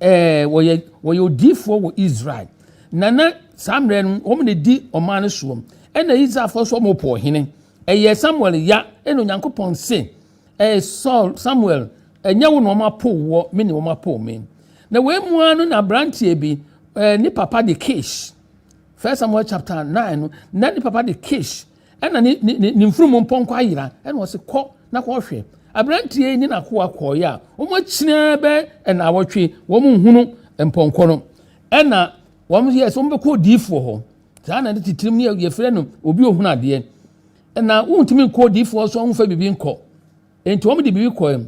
Ɛɛ wɔyɛ wɔyɛ odiifoɔ wɔ Israel na na saa mmerɛ no wɔn na di ɔman no soɔ ɛna Israelfoɔ nso wɔn pɔ ɔhene ɛyɛ Samuel ya ɛna Onyankopɔn se ɛɛ Saul Samuel ɛnyɛ wo na wɔn apo woɔ me ne wɔn apo me na wei mu ara no na aberanteɛ bi ɛɛ ne papa de Kish First Samuel chapter nine no na ne papa de Kish Ɛna ne ne ne ne mfunumu mpɔnkɔ ayera ɛna ɔsi kɔ na kɔhwɛ. Aberanteɛ yi ne n'akoa kɔɔeɛ a wɔn akyinaa bɛ ɛna awɔtwe wɔn nhunu mpɔnkɔ no ɛna wɔn yɛ sɛ wɔn bɛkɔ odiifoɔ hɔ saa na ne titirim ne yɛfrɛ no obi ohun adeɛ ɛna wontumi nkɔ odiifoɔ so ɔnfa biribi nkɔ Enti wɔn de biribi kɔɛ mu.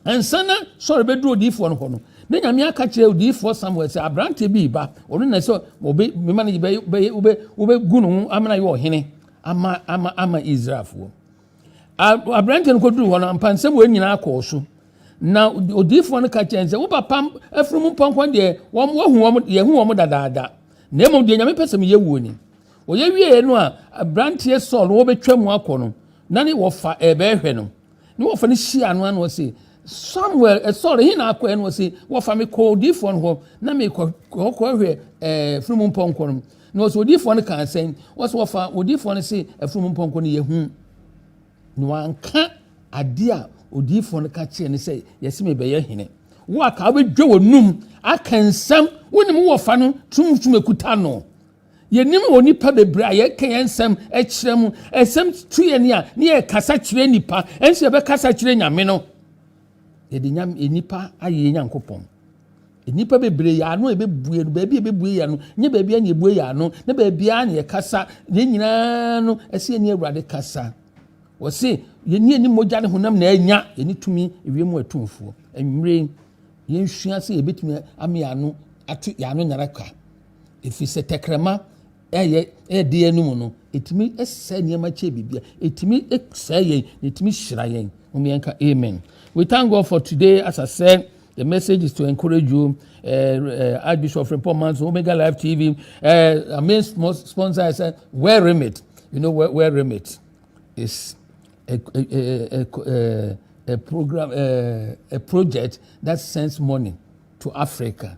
Ansa na Saul bɛduru odiyifoɔ no hɔ no, na Nyame aka kyerɛ odiyifoɔ Samuel sɛ aberanteɛ bi reba, ɔno na sɛ wɔbɛ mema no bɛyɛ bɛyɛ wobɛ wobɛgu no ho amena yɛ ɔhene ama ama ama Israelfoɔ. Aberanteɛ no kɔduru hɔ no ampansɛm wɔ nyinaa kɔɔ so. Na odiyifoɔ no ka kyerɛ sɛ wo papa afunumu pɔnkɔ deɛ wɔn wɔhu wɔn yɛhu wɔn dadaada. Na mmom deɛ Nyame pɛ sɛ meyɛ wuo ni. Wɔyɛ wieeɛ no a abranteɛ Saul no wɔbɛtwa mu akɔ no na ne wɔfa ɛbɛɛhwɛ no ne wɔfa no hyia no ano ɔse Samuel eh, Saul ɛhe na akɔ ɛno ɔse wɔfa me kɔ odiifoɔ no hɔ na mekɔ kɔhwɛ eh, firi mu mpɔnkɔ no na ɔse odiifoɔ no kaa sɛn ɔse wɔfa odiifoɔ no se afiri mu mpɔnkɔ no yɛhu na wanka adeɛ a odiifoɔ no ka kyerɛ ne sɛ yɛse mebɛyɛ hene wo aka wobɛdwa wɔ num aka nsɛm wonim wɔfa no tumtum ekuta no Yɛnim wɔ nnipa bebree a yɛka yɛn nsɛm kyerɛ mu, nsɛm tu yɛn a ne yɛkasa kyerɛ nnipa, ɛnso yɛbɛkasa kyerɛ Nyame no. Yɛde nyame nnipa ayɛ yɛn Nyankopɔn. Nnipa bebree yɛ ano a ɛbɛbue no, baabi a ɛbɛbue yɛ ano, nyɛ baabi a na ɛbue yɛ ano, ne baabi a na yɛkasa, yɛn nyinaa no, ɛsɛ yɛne Awurade kasa. Wɔse, yɛne yɛne mogya ne honam na ɛnya, yɛne tumi ewiem mu atumfoɔ. Ɛnwere, yɛnsua sɛ yɛbɛtumi ame ano ato yɛn ano nyara ka. ɛfiri sɛ tɛkrɛma ɛyɛ ɛde yɛn no mu no ɛtumi sɛ nneɛma kyɛ biribiara ɛtumi sɛ yɛn na ɛtumi hyira yɛn wɔn yɛn ka amen we thank god for today as i said. The message is to encourage you. Uh, uh, Archbishop Frimpong Manso, Omega Live TV. Uh, our main sponsor is uh, Wear Remit. You know, Wear, Wear Remit is a, a, a, a, a program, a, a project that sends money to Africa.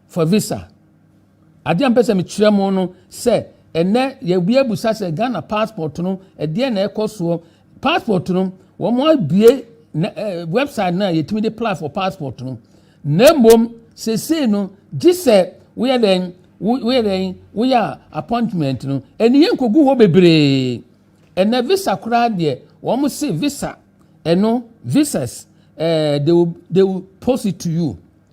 For visa. Adeɛ a mpɛ sɛ mekyerɛ mo no sɛ ɛnɛ yɛbi abusa sɛ Ghana passport no ɛdeɛ na ɛkɔ soɔ passport no wɔn abue website no a yɛtumi de apply for passport no na mmom sesei no gye sɛ woyɛ dɛn woyɛ dɛn woyɛ appointment no ɛni yɛn kogu hɔ bebree ɛnɛ visa koraa deɛ wɔn se visa ɛno visas ɛɛ eh, they will they will post it to you.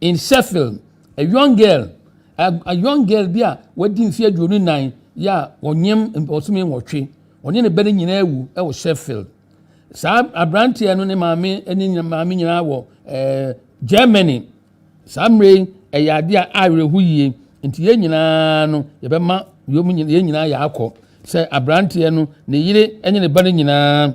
In Sheffield, a young girl, a, a young girl bi a wadi mfe aduonu nnan yi a ɔnyem ɔsome nwɔtwe, ɔne ne ba no nyinaa awu wɔ Sheffield. Saa aberanteɛ no ne maame ne nyina- maame nyinaa wɔ eh, Germany. Saa mmerɛ yi ɛyɛ adeɛ a awerɛho yie nti yɛn nyinaa no yɛbɛma yɛn nyinaa yɛakɔ sɛ aberanteɛ no ne yere ne ne ba no nyinaa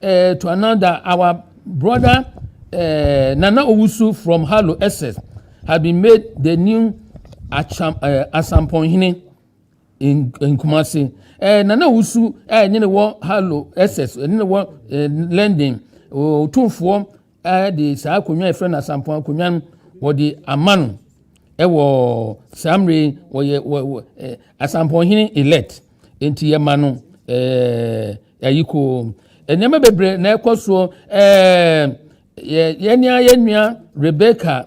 Uh, to another, our brother uh, Nana Owusu from Halo SS has been made the new Acham, uh, Asamponhene in, in Kumasi. Uh, Nana Owusu, uh, ne wɔ Halo SS, ne wɔ uh, London, ɔtumfoɔ de saa akonnwa a yɛfrɛ no asampɔn akonnwa no wɔde ama no wɔ saa mmere wɔyɛ wɔ wɔ eh, asampɔnhene elect nti yɛma no ɛɛ eh, ayi koo nneɛma bebree na ɛkɔ soɔ ɛɛ eh, yɛ yɛn nua yɛn nua rebecca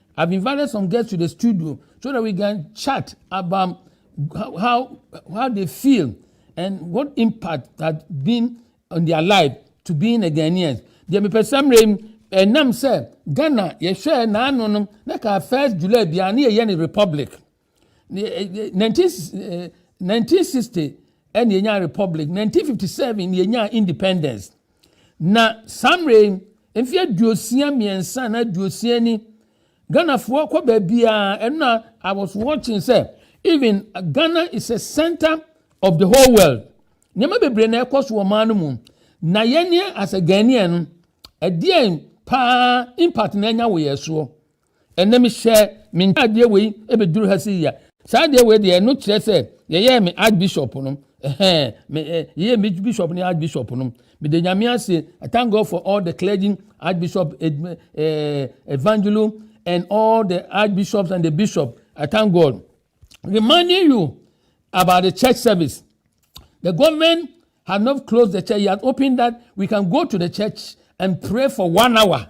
I've invited some guests to the studio so that we can chat about how how they feel and what impact that been on their life to being a Ghanaian. Deɛ mepɛ sɛ mmerɛ mu ɛnam sɛ Ghana yɛhwɛ n'ano no na ka first July biara ne yɛyɛ ne republic. 1960 eh, eh, na yɛnyaa republic 1957 na yɛnyaa independence na saa mmerɛ yi mfe aduosia mmiɛnsa na aduosia ni ghanafoɔ kɔ baabiaa ɛno i was watching sɛ even ghana is a center of the whole world nneɛma bebree na ɛkɔ so wɔ ɔman no mu na yɛneɛ as a ghanaian no ɛdeɛn paa impact na ɛnya wɔ yɛn soɔ Ɛnnɛ mehyɛ me ntaadeɛ wei bɛduru ha sei a, saa adeɛ wei deɛ ɛno kyerɛ sɛ yɛyɛɛ me archbishop no. Ɛhɛn, me ɛ, yɛyɛ me bishop ne archbishop no. Mede nyame ase, I thank God for all the clergy, archbishop, ed, eh, evangelo, and all the archbishops and the bishop. I thank God. Reminding you about the church service. The government has not closed the church, he has opened that we can go to the church and pray for one hour.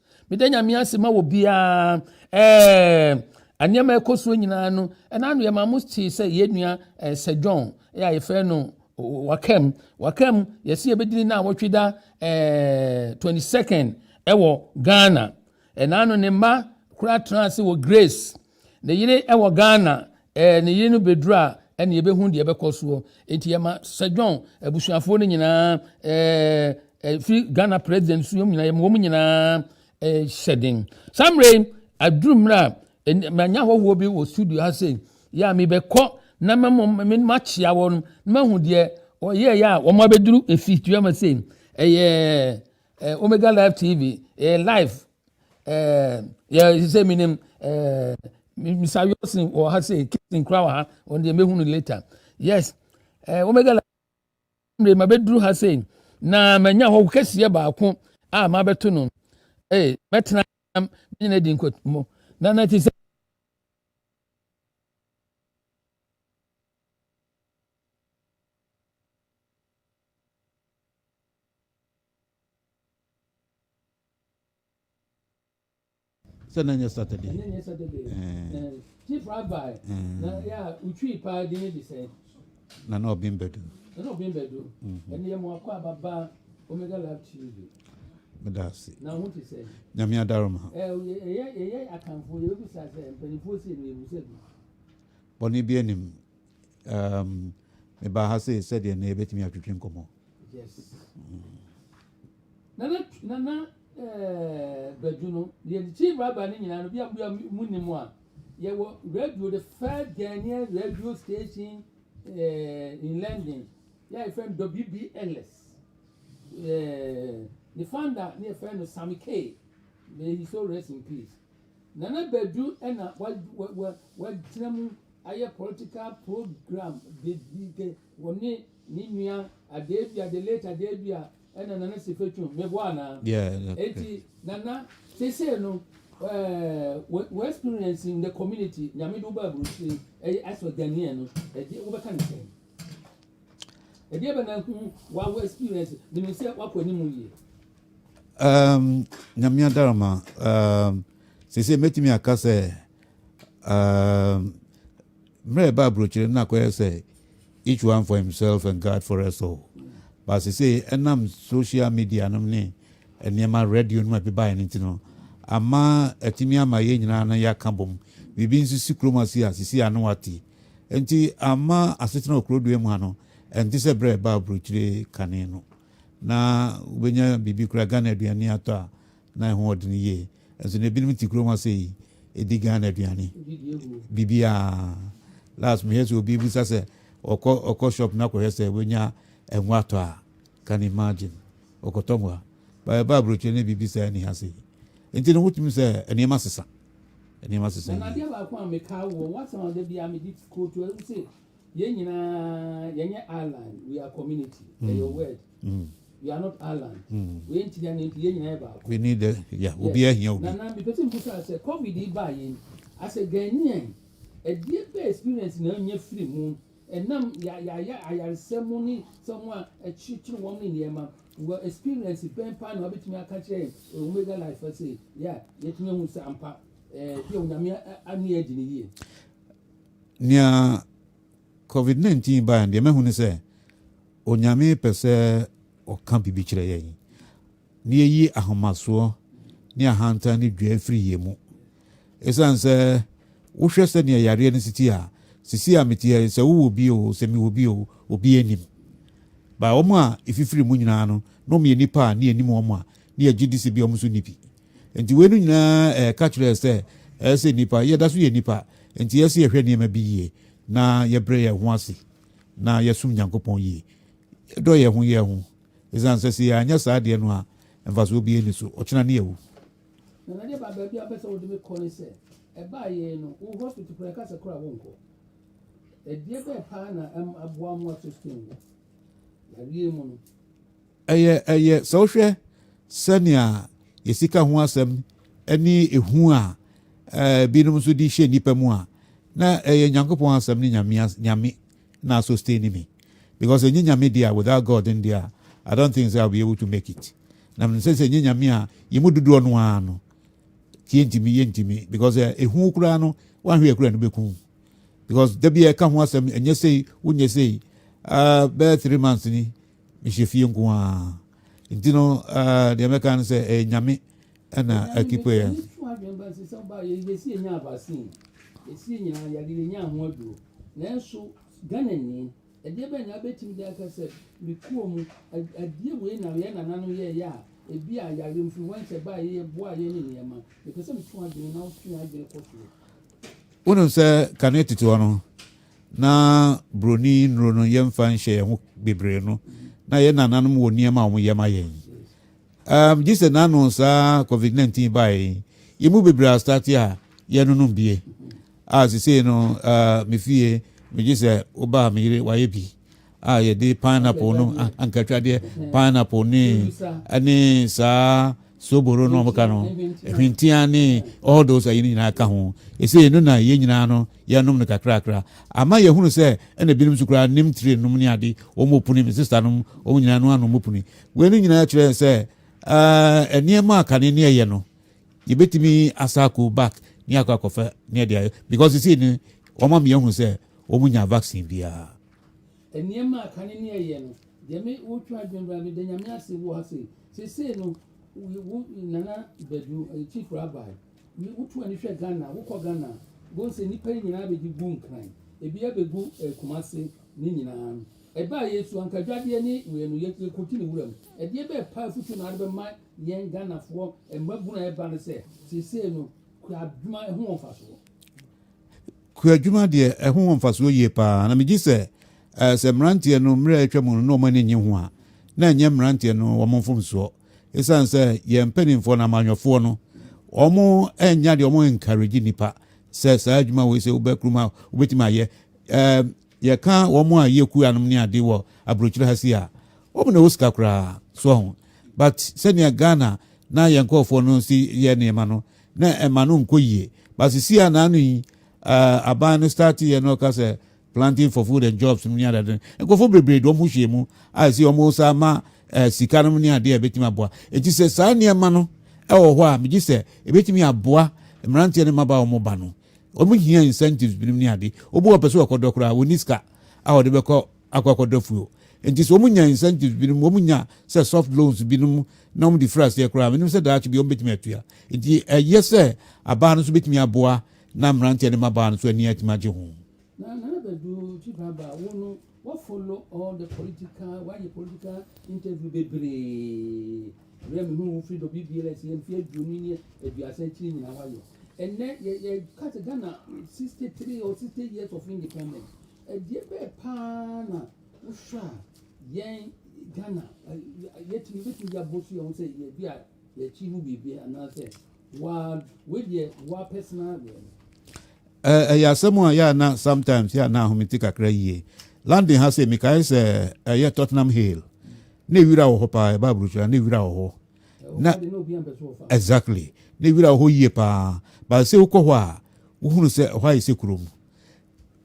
meda nyame ase ma wɔ biara ɛɛ nneɛma ɛkɔ soɔ nyinaa no ɛna ano yɛ maa mo tee sɛ yɛn nua ɛɛ sɛ john ɛyɛ a yɛfrɛ no wakam wakam yɛsi yɛbɛdini na awɔtwe da ɛɛ twenty second ɛwɔ ghana ɛna ano ne mma kura tena ase wɔ grace. Ne yere wɔ Ghana eh, ne yere no bɛduru a ɛne yɛbɛhu deɛ ɛbɛkɔ soɔ. Enti yɛma Sir John abusuafoɔ no nyinaa eh, eh, firi Ghana president so yɛm nyinaa yɛma wɔn nyinaa eh, hyɛ den. Saa mmerɛ yi aduru mmerɛ a ɛn- manya hɔhoɔ bi wɔ studio ha sei yɛ a mebɛkɔ na mɛmɔ me makyea wɔn na mahu deɛ ɔyɛɛyɛ a wɔn abɛduru efi tuama sei ɛyɛ eh, Omega Live TV eh, live ɛɛ yɛ sɛ mi nim ɛɛ misa wilson wɔ ha sɛ kitin kura wɔ ha wɔn deɛ mehu no later yes ɛɛ wɔn bɛgɛ la mmiri ma bɛduru ha sɛ na ma nya hɔ kɛseɛ baako a ma bɛto no ee mɛtena nam nyina di nkɔtɔmɔ na na ti sɛ. sɛ na nyɛ saturday ɛnɛ nyɛ saturday ɛɛ chief rabbi na yɛ a otwi paa di ne de sɛ na na ɔbɛn bɛdu na na ɔbɛn bɛdu ɛnɛ yɛ mo akɔ ababa omega lab tuesday meda ase na ho te sɛ nyame adaroma ɛyɛ ɛyɛ akanfo yɛ bisa sɛ mpanimfoɔ si ɛnu yɛ bisa bi bɔne bi anim Um, mebaa ha sei sɛdeɛ na yɛbɛtumi atwetwe nkɔmmɔ. Yes. Mm. Nana, nana eh, badu no, deɛ de chief rabbi no nyinaa no, bi a bi a mu ni mu a, yɛwɔ radio, the first Ghanaian radio station eh, in London, yɛ a yɛfrɛ no WBLS. Eh, the founder, ne yɛfrɛ no Sammy K. May he so rest in peace. Nana Badu na watena mu ayɛ political program bebree. Ɔne ne nua Adebia, the late Adebia na Nana Sefetuo. Meboa anaa? Yeah, okay. Eti Nana, sese no, ɛɛ, wɔ experience in the community, nyame de wo ba aburukyire, ɛyɛ asɔ Ghanaian no, ɛdeɛ wobɛka ne sɛn? Ɛdeɛ bɛ na ho wa wo experience, menim sɛ wakɔ anim yie. Um, Nyame Adarama, um, sese mɛtumi aka sɛ, um, mmerɛ ɛba aburokyire no na akɔyɛ sɛ each one for himself and God for us all. But sese ɛnam social media nom ne nneɛma radio nom a ɛbi baeɛ no nti no, ama atumi ama yɛn nyinaa no yɛaka bom. Biribi nso si kurom ase a sisi ano ate. Nti ama asetena wɔ kurodua mu ha no, ɛnte sɛ berɛ ɛba aburokyire kane no. na wobɛnya biribi koraa Ghana aduane atɔ a na ɛho ɔdene yie nso na ebinom te kurom ase yi ɛdi Ghana aduane biribiaa last mehwɛ sɛ obi bisa sɛ ɔkɔ ɔkɔ shop na kɔhwɛ sɛ wobɛnya ɛho atɔ a can imagine ɔkɔtɔ ngo a baɛ ba aburokyerɛ ne biribi saa ni ha se nti no wotumi sɛ nneɛma sesa nneɛma sesa yi Yɛn nyinaa yɛnyɛ island we are community ɛyɛ mm. word mm. we are not island mm. wei nti na nti yɛn nyinaa yɛ baako. we need the ya obi ahia obi. nana mipɛtɛ mbusa sɛ covid yi baa yɛn asɛ ghanaian ɛdeɛ bɛ experience na ɛnyɛ firi mu ɛnam yɛayɛ ayaresɛ mu ne sɛ wɔn a ɛkyerekyere wɔn ne nneɛma wɔ experience bɛn paa na wɔbɛtumi aka kyerɛ omega life ase yɛ a yɛtumi ahu sɛ ampa ɛɛ bi a onyame ani adi ne yie. Nea Covid nineteen bae no, deɛ mahu ne sɛ Onyame pɛ sɛ ɔka biribi kyerɛ yɛn, na yɛyi ahomasoɔ ne ahantan ne dwa afiri yɛn mu. Esiane sɛ wohwɛ sɛdeɛ yareɛ no siti a, sisi a meteɛ sɛ wowɔ bi o, sɛ mewɔ bi o, obi anim. Ba wɔn a ɛfifiri mu nyinaa no, na wɔyɛ nnipa a ne yɛnim wɔn a, ne yɛgye di sɛ bi wɔn nso nni bi. Enti weinom nyinaa ɛreka kyerɛ yɛn sɛ ɛsɛ sɛ nnipa, yɛda so yɛ nnipa, enti ɛsɛ sɛ yɛhwɛ nneɛma bi yie, na yɛbrɛ yɛn ho ase, na yɛsom Nyankopɔn yie. Yɛdɔ yɛn ho yɛn ho, ɛsiane sɛ sɛ yɛanyɛ saa deɛ no a, mfasoɔ biara nni so, ɔkyena ne yɛawu. Na nade ba baabi a wopɛ sɛ wode me kɔ ne sɛ, ɛbaa yɛn no, wo hospital koraa ɛka sɛ koraa wonkɔ. Ɛdeɛ bɛɛ paa na ɛm aboa mo ato stem wɔ yareɛ mu no? Ɛyɛ ɛyɛ sɛ wohwɛ sɛnea yɛ sika ho asɛm ne ehu a binom nso de hyɛ nnipa mu a, na ɛyɛ Nyankopɔn asɛm ne Nyame Nyame na sustain me. Because ɛnyɛ Nyame deɛ a, without God then deɛ a, I don't think so I'll be able to make it. Na mene sɛ sɛ ɛnyɛ Nyame a, yɛ mu dodoɔ no ara no, tie ntimi, yɛ ntimi. Because ehu koraa no, wanhwɛ ɛkura no bɛku. Because da bi a ɛka ho asɛm, ɛnyɛ sei, wonyɛ sei, uh, bɛyɛ three months ni, Mehyɛ fie nko ara. Nti no, uh, deɛ mɛka no sɛ ɛyɛ Nyame ɛna akipe yɛn. Nanso Ghanani ɛdeɛ bɛn na abɛtumi de aka sɛ ne kuo mu ɛdeɛ wei na yɛn nananom yɛyɛ a ebi a yare mfiri hɔ nkyɛ baa yɛyɛ boa yɛ ne nneɛma ɛpɛ sɛ metu adwene na wotwe adwene kɔ soɔ wonim sɛ kane tete hɔ no Na buroni nnuro no yɛmfa nhyɛ yɛn ho bebree no, na yɛn nananom wɔ nneɛma a wɔyɛ ma yɛn. Um, gye sɛ n'ano saa COVID-19 baeɛ yi, yɛn mu bebree astate a yɛnonom bie. A, sesei no, uh, me fie, megye sɛ wobaa me yere wayɛ bi. a yɛde pineapple no ankatwadeɛ pineapple ne ɛne saa soboro no ɔmo ka no hwentia ne all those ayi no nyinaa ka ho ɛsɛ no na yɛn nyinaa no yɛnom no kakrakra ama yɛhunu sɛ ɛna binom so koraa nim tire nom ne ade wɔn opuni me sista nom wɔn nyinaa no anom opuni wei no nyinaa kyerɛ sɛ ɛɛ nneɛma a kane ne ɛyɛ no yɛbɛtumi asa akɔ back ne akɔ akɔfɛ ne ɛde ayɛ because sisi ne wɔn ama yɛhunu sɛ wɔn nya vaccine biara. Nneɛma a kane ne ɛyɛ no deɛ me wo twa adwene bra me da nyame ase wo ha sei sesei no wo nana badu chief rabbi wo tu ani hwɛ Ghana wo kɔ Ghana bon sɛ nipa yi nyinaa bɛgye gu nkran ebi abɛgu eh, kumase ne nyinaa no ɛbaa yɛ su anka dwadeɛ ne wei no yɛkɔgye ne wura mu ɛdeɛ bɛɛ pa afutu na ade bɛma yɛn Ghanafoɔ mmabunu a ɛba no sɛ sesei no kura adwuma ɛho wɔn fa soɔ Kuadwuma deɛ, ɛho wɔ mfasoɔ yie pa ara, na megye sɛ sɛ mmeranteɛ no mmerɛ a atwa mu no na wɔn ani nnye ho a, na ɛnyɛ mmeranteɛ no wɔn mfomsoɔ. Ɛsiane sɛ yɛn mpanimfoɔ no, amanyɔfoɔ no, wɔnnya deɛ wɔn encourage nnipa sɛ saa adwuma wei sɛ wobɛkurum a wobɛtumi ayɛ. Ɛɛ yɛka wɔn a yɛ kuanom ne ade wɔ aburokyire ha si a, wɔn na ɛwɔ sika koraa so ho. But sɛnea Ghana na yɛn nkurɔfoɔ no si yɛ nneɛma no, na ɛma no nkɔ yie but sisi a naano yi uh, aban no start yɛ no ɔka sɛ planting for food and jobs no ne adade no nkurɔfoɔ bebree de wɔn hyɛ mu a ɛsi wɔn sa ma uh, sika no ne adeɛ a ɛbɛtumi aboa eti sɛ saa nneɛma no ɛwɔ hɔ a megye sɛ ɛbɛtumi aboa mmeranteɛ no mmaba wɔn ba no wɔn hia incentives binom ne ade obi wɔ pɛ sɛ wɔkɔdɔ koraa wɔn ni sika a wɔde bɛkɔ akɔ akɔda fue o. Enti sɛ wɔnya incentives binom, wɔnya sɛ soft loans binom na wɔde firi aseɛ koraa a, menim sɛ daakye bi wɔbɛtumi atua. Enti ɛyɛ sɛ abaa no nso bɛtumi aboa na mmeranteɛ ne mmabaa no nso ani atumi agye ho. Na Nana Badu Kyibaba, wo no wafolo all the political, wayɛ political interview bebree. Berɛ a mehu wo firi dɔ biribiara ɛsɛ yɛ mfeɛ aduonu ne aduasa akyiri nyinaa wayɛ. Ɛnnɛ yɛka sɛ Ghana 63 or 60 years of independence. Ɛdeɛ bɛɛ paa na wohwɛ a yɛn Ghana yɛtumi bɛtumi de abɔ so yɛn ho sɛ yɛ bi a yɛkyi ho biribi anaasɛ waa wei deɛ waa personal deɛ no. Ɛyɛ asɛm a yɛ a na sometimes yɛ a na ahomete kakra yie. London ha sɛ mekae sɛ ɛyɛ Tottenham Hill na ewira wɔ hɔ paa ɛba aburokyira na ewira wɔ hɔ na exactly na ewira wɔ hɔ yie paa baasɛ wokɔ hɔ a wohunu sɛ ɛhɔ ayɛ sɛ kurom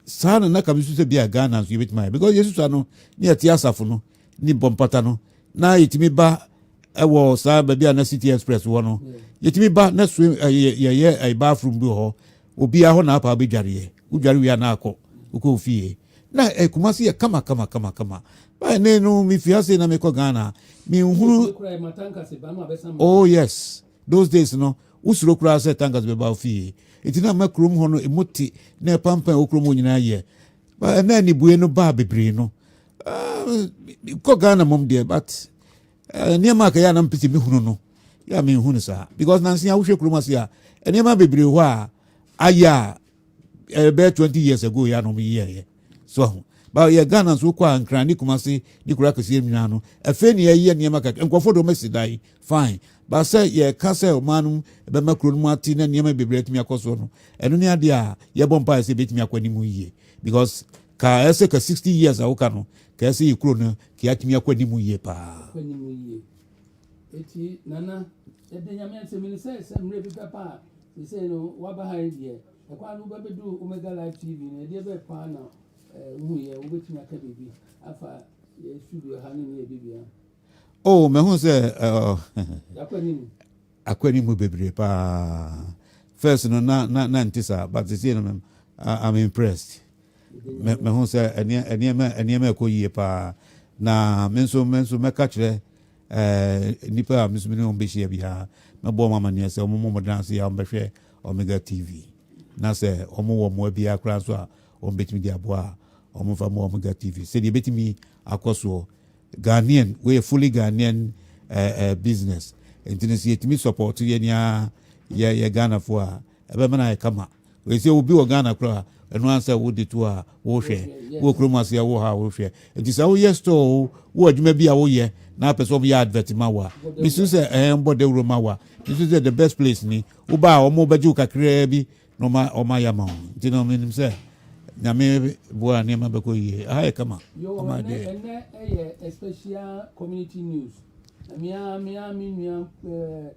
saa na na kame su sɛ bia Ghana nso yɛbɛtumi ayɛ because yɛsusua no ne yɛte asafo no ne bɔmpata no na yɛtumi ba ɛwɔ saa baabi a na city express wɔ no yɛtumi ba na so yɛyɛ ɛba aforom bi wɔ hɔ obiara hɔ na apa wobɛdwareɛ wodware wie a na akɔ wokɔ ofie na ɛkuma se yɛ kama kama kama kama baɛ ne no mefi ase na mekɔ Ghana menhunu oh yes Those days no, wo suro koraa sɛ tangas bɛba wo fie. Enti na ama kurom hɔ no emu te na ɛpampan a ɛwɔ kurom hɔ nyinaa yɛ. Ba ɛna anibue no baa bebree no. Uh, kɔ Ghana mom deɛ, but uh, nneɛma a kɛyɛ a na mpete me hunu no, yɛ a menhu no saa. Because nansi a wohwɛ kurom ase a, nneɛma bebree hɔ a ayɛ a ɛbɛyɛ twenty years ago yɛ anam yi yɛyɛ so ahu ba yɛ ghana nso kɔ a nkran ne kumase ne kura kɛseɛ nwina no afei ne yɛyɛ nneɛma kakra nkurɔfoɔ dɔm asi dan fine ba sɛ yɛka sɛ ɔman no bɛma kuro no mu ate na nneɛma bebree atumi akɔ soɔ no ɛno ne adeɛ a yɛbɔ mpaeɛ sɛ ɛbɛtumi akɔ anim yie because ka ɛsɛ ka sixty years a woka no ka ɛsɛ yɛ kuro no ka yɛatumi akɔ anim yie paa Ekyir, Nana, ede Nyame asem no sɛ sɛ mmerɛ bi pɛ paa sesei no waba ha yi deɛ, ɛkwan no wobɛbɛduru Omega Live TV no, ɛdeɛ bɛɛ paa na wohuiɛ, wobɛtumi aka biribi afa yɛ studio ha no ne yɛ bibia? Oh, mahu sɛ akɔ anim mu bebree paa. First no na na na nti saa, but sesei no I'm impressed. Me, mehu sɛ ɛneɛ, ɛneɛma, ɛneɛma ɛkɔ yie paa. Na me nso, me nso mɛka kyerɛ ɛɛ nnipa a me nso me ne wɔn bɛhyia biara, mɛbɔ wɔn amaneɛ sɛ wɔn mmɔ wɔn dan ase a wɔbɛhwɛ Omega TV. Na sɛ wɔn wɔ mmoa biara koraa nso a wɔn bɛtumi de aboa a, wɔn mfa mmoa Omega TV. Sɛdeɛ ebɛtumi akɔ soɔ. Ghanaian, wɔyɛ fully Ghanaian ɛɛ ɛɛ business. Nti no sɛ yɛtumi support yɛn ni ara yɛ yɛ Ghanafoɔ a, ɛbɛma no ayɛ kama. Wei sɛ obi wɔ Ghana koraa ɛno ara sɛ wode to a wohwɛ, wowɔ kurom ase a wowɔ ha a wohwɛ. Nti sɛ woyɛ store o, wowɔ adwuma bi a woyɛ na apɛ sɛ wɔyɛ advert ma wo a, mesu sɛ ɛɛ mbɔ dawuro ma wo a, mesu sɛ the best place ni. Woba a wɔn bɛgye wo kakraa bi na wɔn ayɛ ama wo. Nti no menim sɛ Nyame boa a nneɛma bɛkɔ yie. Aha yɛ kama. Yoo, ɛnɛ ɛnɛ ɛyɛ a special community news. Na mea mea me nua ɛɛ.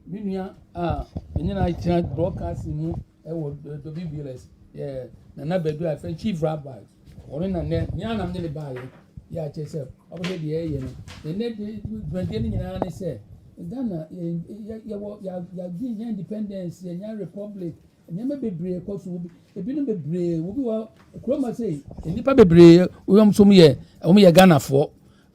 Me nua a ɛnyɛ na akyerɛ broadcasting mu ɛwɔ dobi bls yɛ nana badu a fɛ chief rabbi ɔno na nɛ nyɛ anam ne ne baayɛ yɛ akyɛ sɛ ɔbɛhwɛ deɛ ɛyɛ no na nɛ dwumadie no nyinaa ne sɛ ghana yɛwɔ yɛagye yɛ independence yɛnya republic nneɛma bebree kɔ so ebinom bebree obi wɔ kuroma sɛ nnipa bebree wɔn nso yɛ wɔn yɛ ghanafoɔ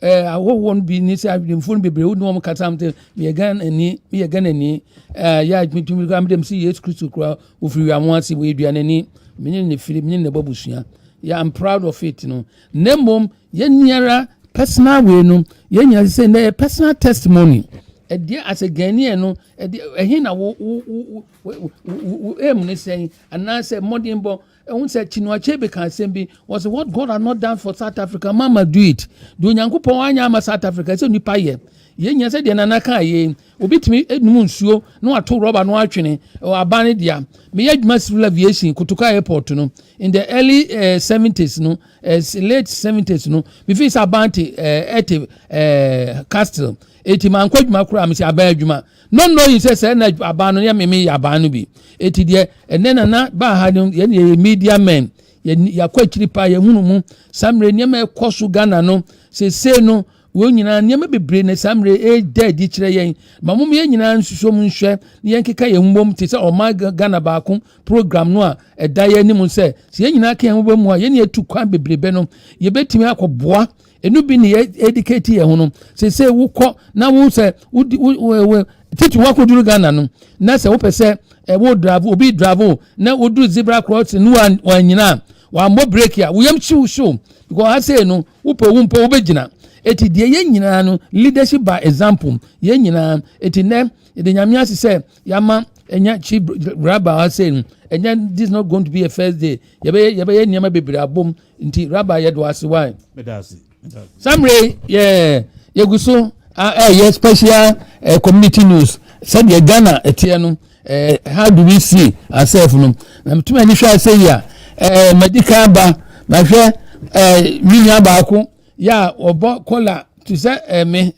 Eh, ahɔhoɔ no bi ne sɛ adwemfoɔ no bebree wo ne wɔn kasa m sɛ meyɛ ghanani meyɛ ghanani eh, yɛ adwumatumi koraa medɛm sɛ yesu kristo koraa wɔfiri wiamo ase wɔyɛ duanani menye ne firi menye ne bɔ abusua yeah, i'm proud of it no na mmom yɛniara personal wei no yɛnyina sɛ na yɛ personal testimony ɛdeɛ asɛ ghanaian no ɛdeɛ ɛhe na wo wo wo wo wo ɛmu ne sɛn anaasɛ mmɔdenbɔ Ɛho sɛ Chinua Achebe ka asɛm bi, wɔsɛ what God has not done for South Africa, man must do it. Deɛ Onyankopɔn anyɛ ama South Africa, ɛsɛ nnipa yɛ. Yɛnyɛ sɛ deɛ Nana kaa yei, obi tumi num nsuo na wato rɔba no atwene aban no dea. Meyɛ adwuma civil aviation Kotoka airport no in the early uh, 70s no, uh, late 70s no, mefii sɛ aban te uh, ɛte uh, castle. Eti mankɔ adwuma koraa, mesɛ aban adwuma. No no yi sɛ sɛ na aban no yɛ meme yɛ aban no bi eti deɛ ɛnɛ na na baa ha no yɛn yɛ media men yɛakɔ akyiri paa yɛhunu mu saa mmerɛ nneɛma ɛkɔ so ghana no sesei no wɔn nyinaa nneɛma bebree na saa mmerɛ ɛda adi kyerɛ yɛn ma mom yɛn nyinaa nsusuo mu nhwɛ na yɛnkeka yɛn mmom te sɛ ɔma ghana baako program no a ɛda yɛn anim sɛ sɛ yɛn nyinaa ka yɛn ho bɔ mu a yɛne yɛtu kwan bebrebe no yɛbɛtumi akɔboa ɛnu bi ne yɛ edikati yɛ ho no sese wokɔ na wo sɛ wodi wo wo titi wakɔduru ghana no na sɛ wopɛ sɛ ɛwo dravo obi dravo na woduru zebra crossing no wanyina a wammɔ breki a woyam hyew hyew because ha sei no wopɛ wo mpɔ wobɛgyina ɛti deɛ yɛn nyinaa no leadership by example yɛn nyinaa ɛti nɛ yɛde nyame ase sɛ yɛama ɛnyɛ chi graba ha sei no ɛnyɛ this not going to be a first day yɛbɛyɛ yɛbɛyɛ nneɛma bebree abom nti rabbi yɛ do ase why. meda ase meda ase. samre yɛ yɛgu so ɛyɛ special uh, community news sɛdeɛ ghana ɛteɛ no uh, how do we see ourselves no na metumi ani hwɛ asɛ yi a uh, madi kan ba mahwɛ uh, me nua baako yɛ a ɔbɔ kɔla te sɛ uh, me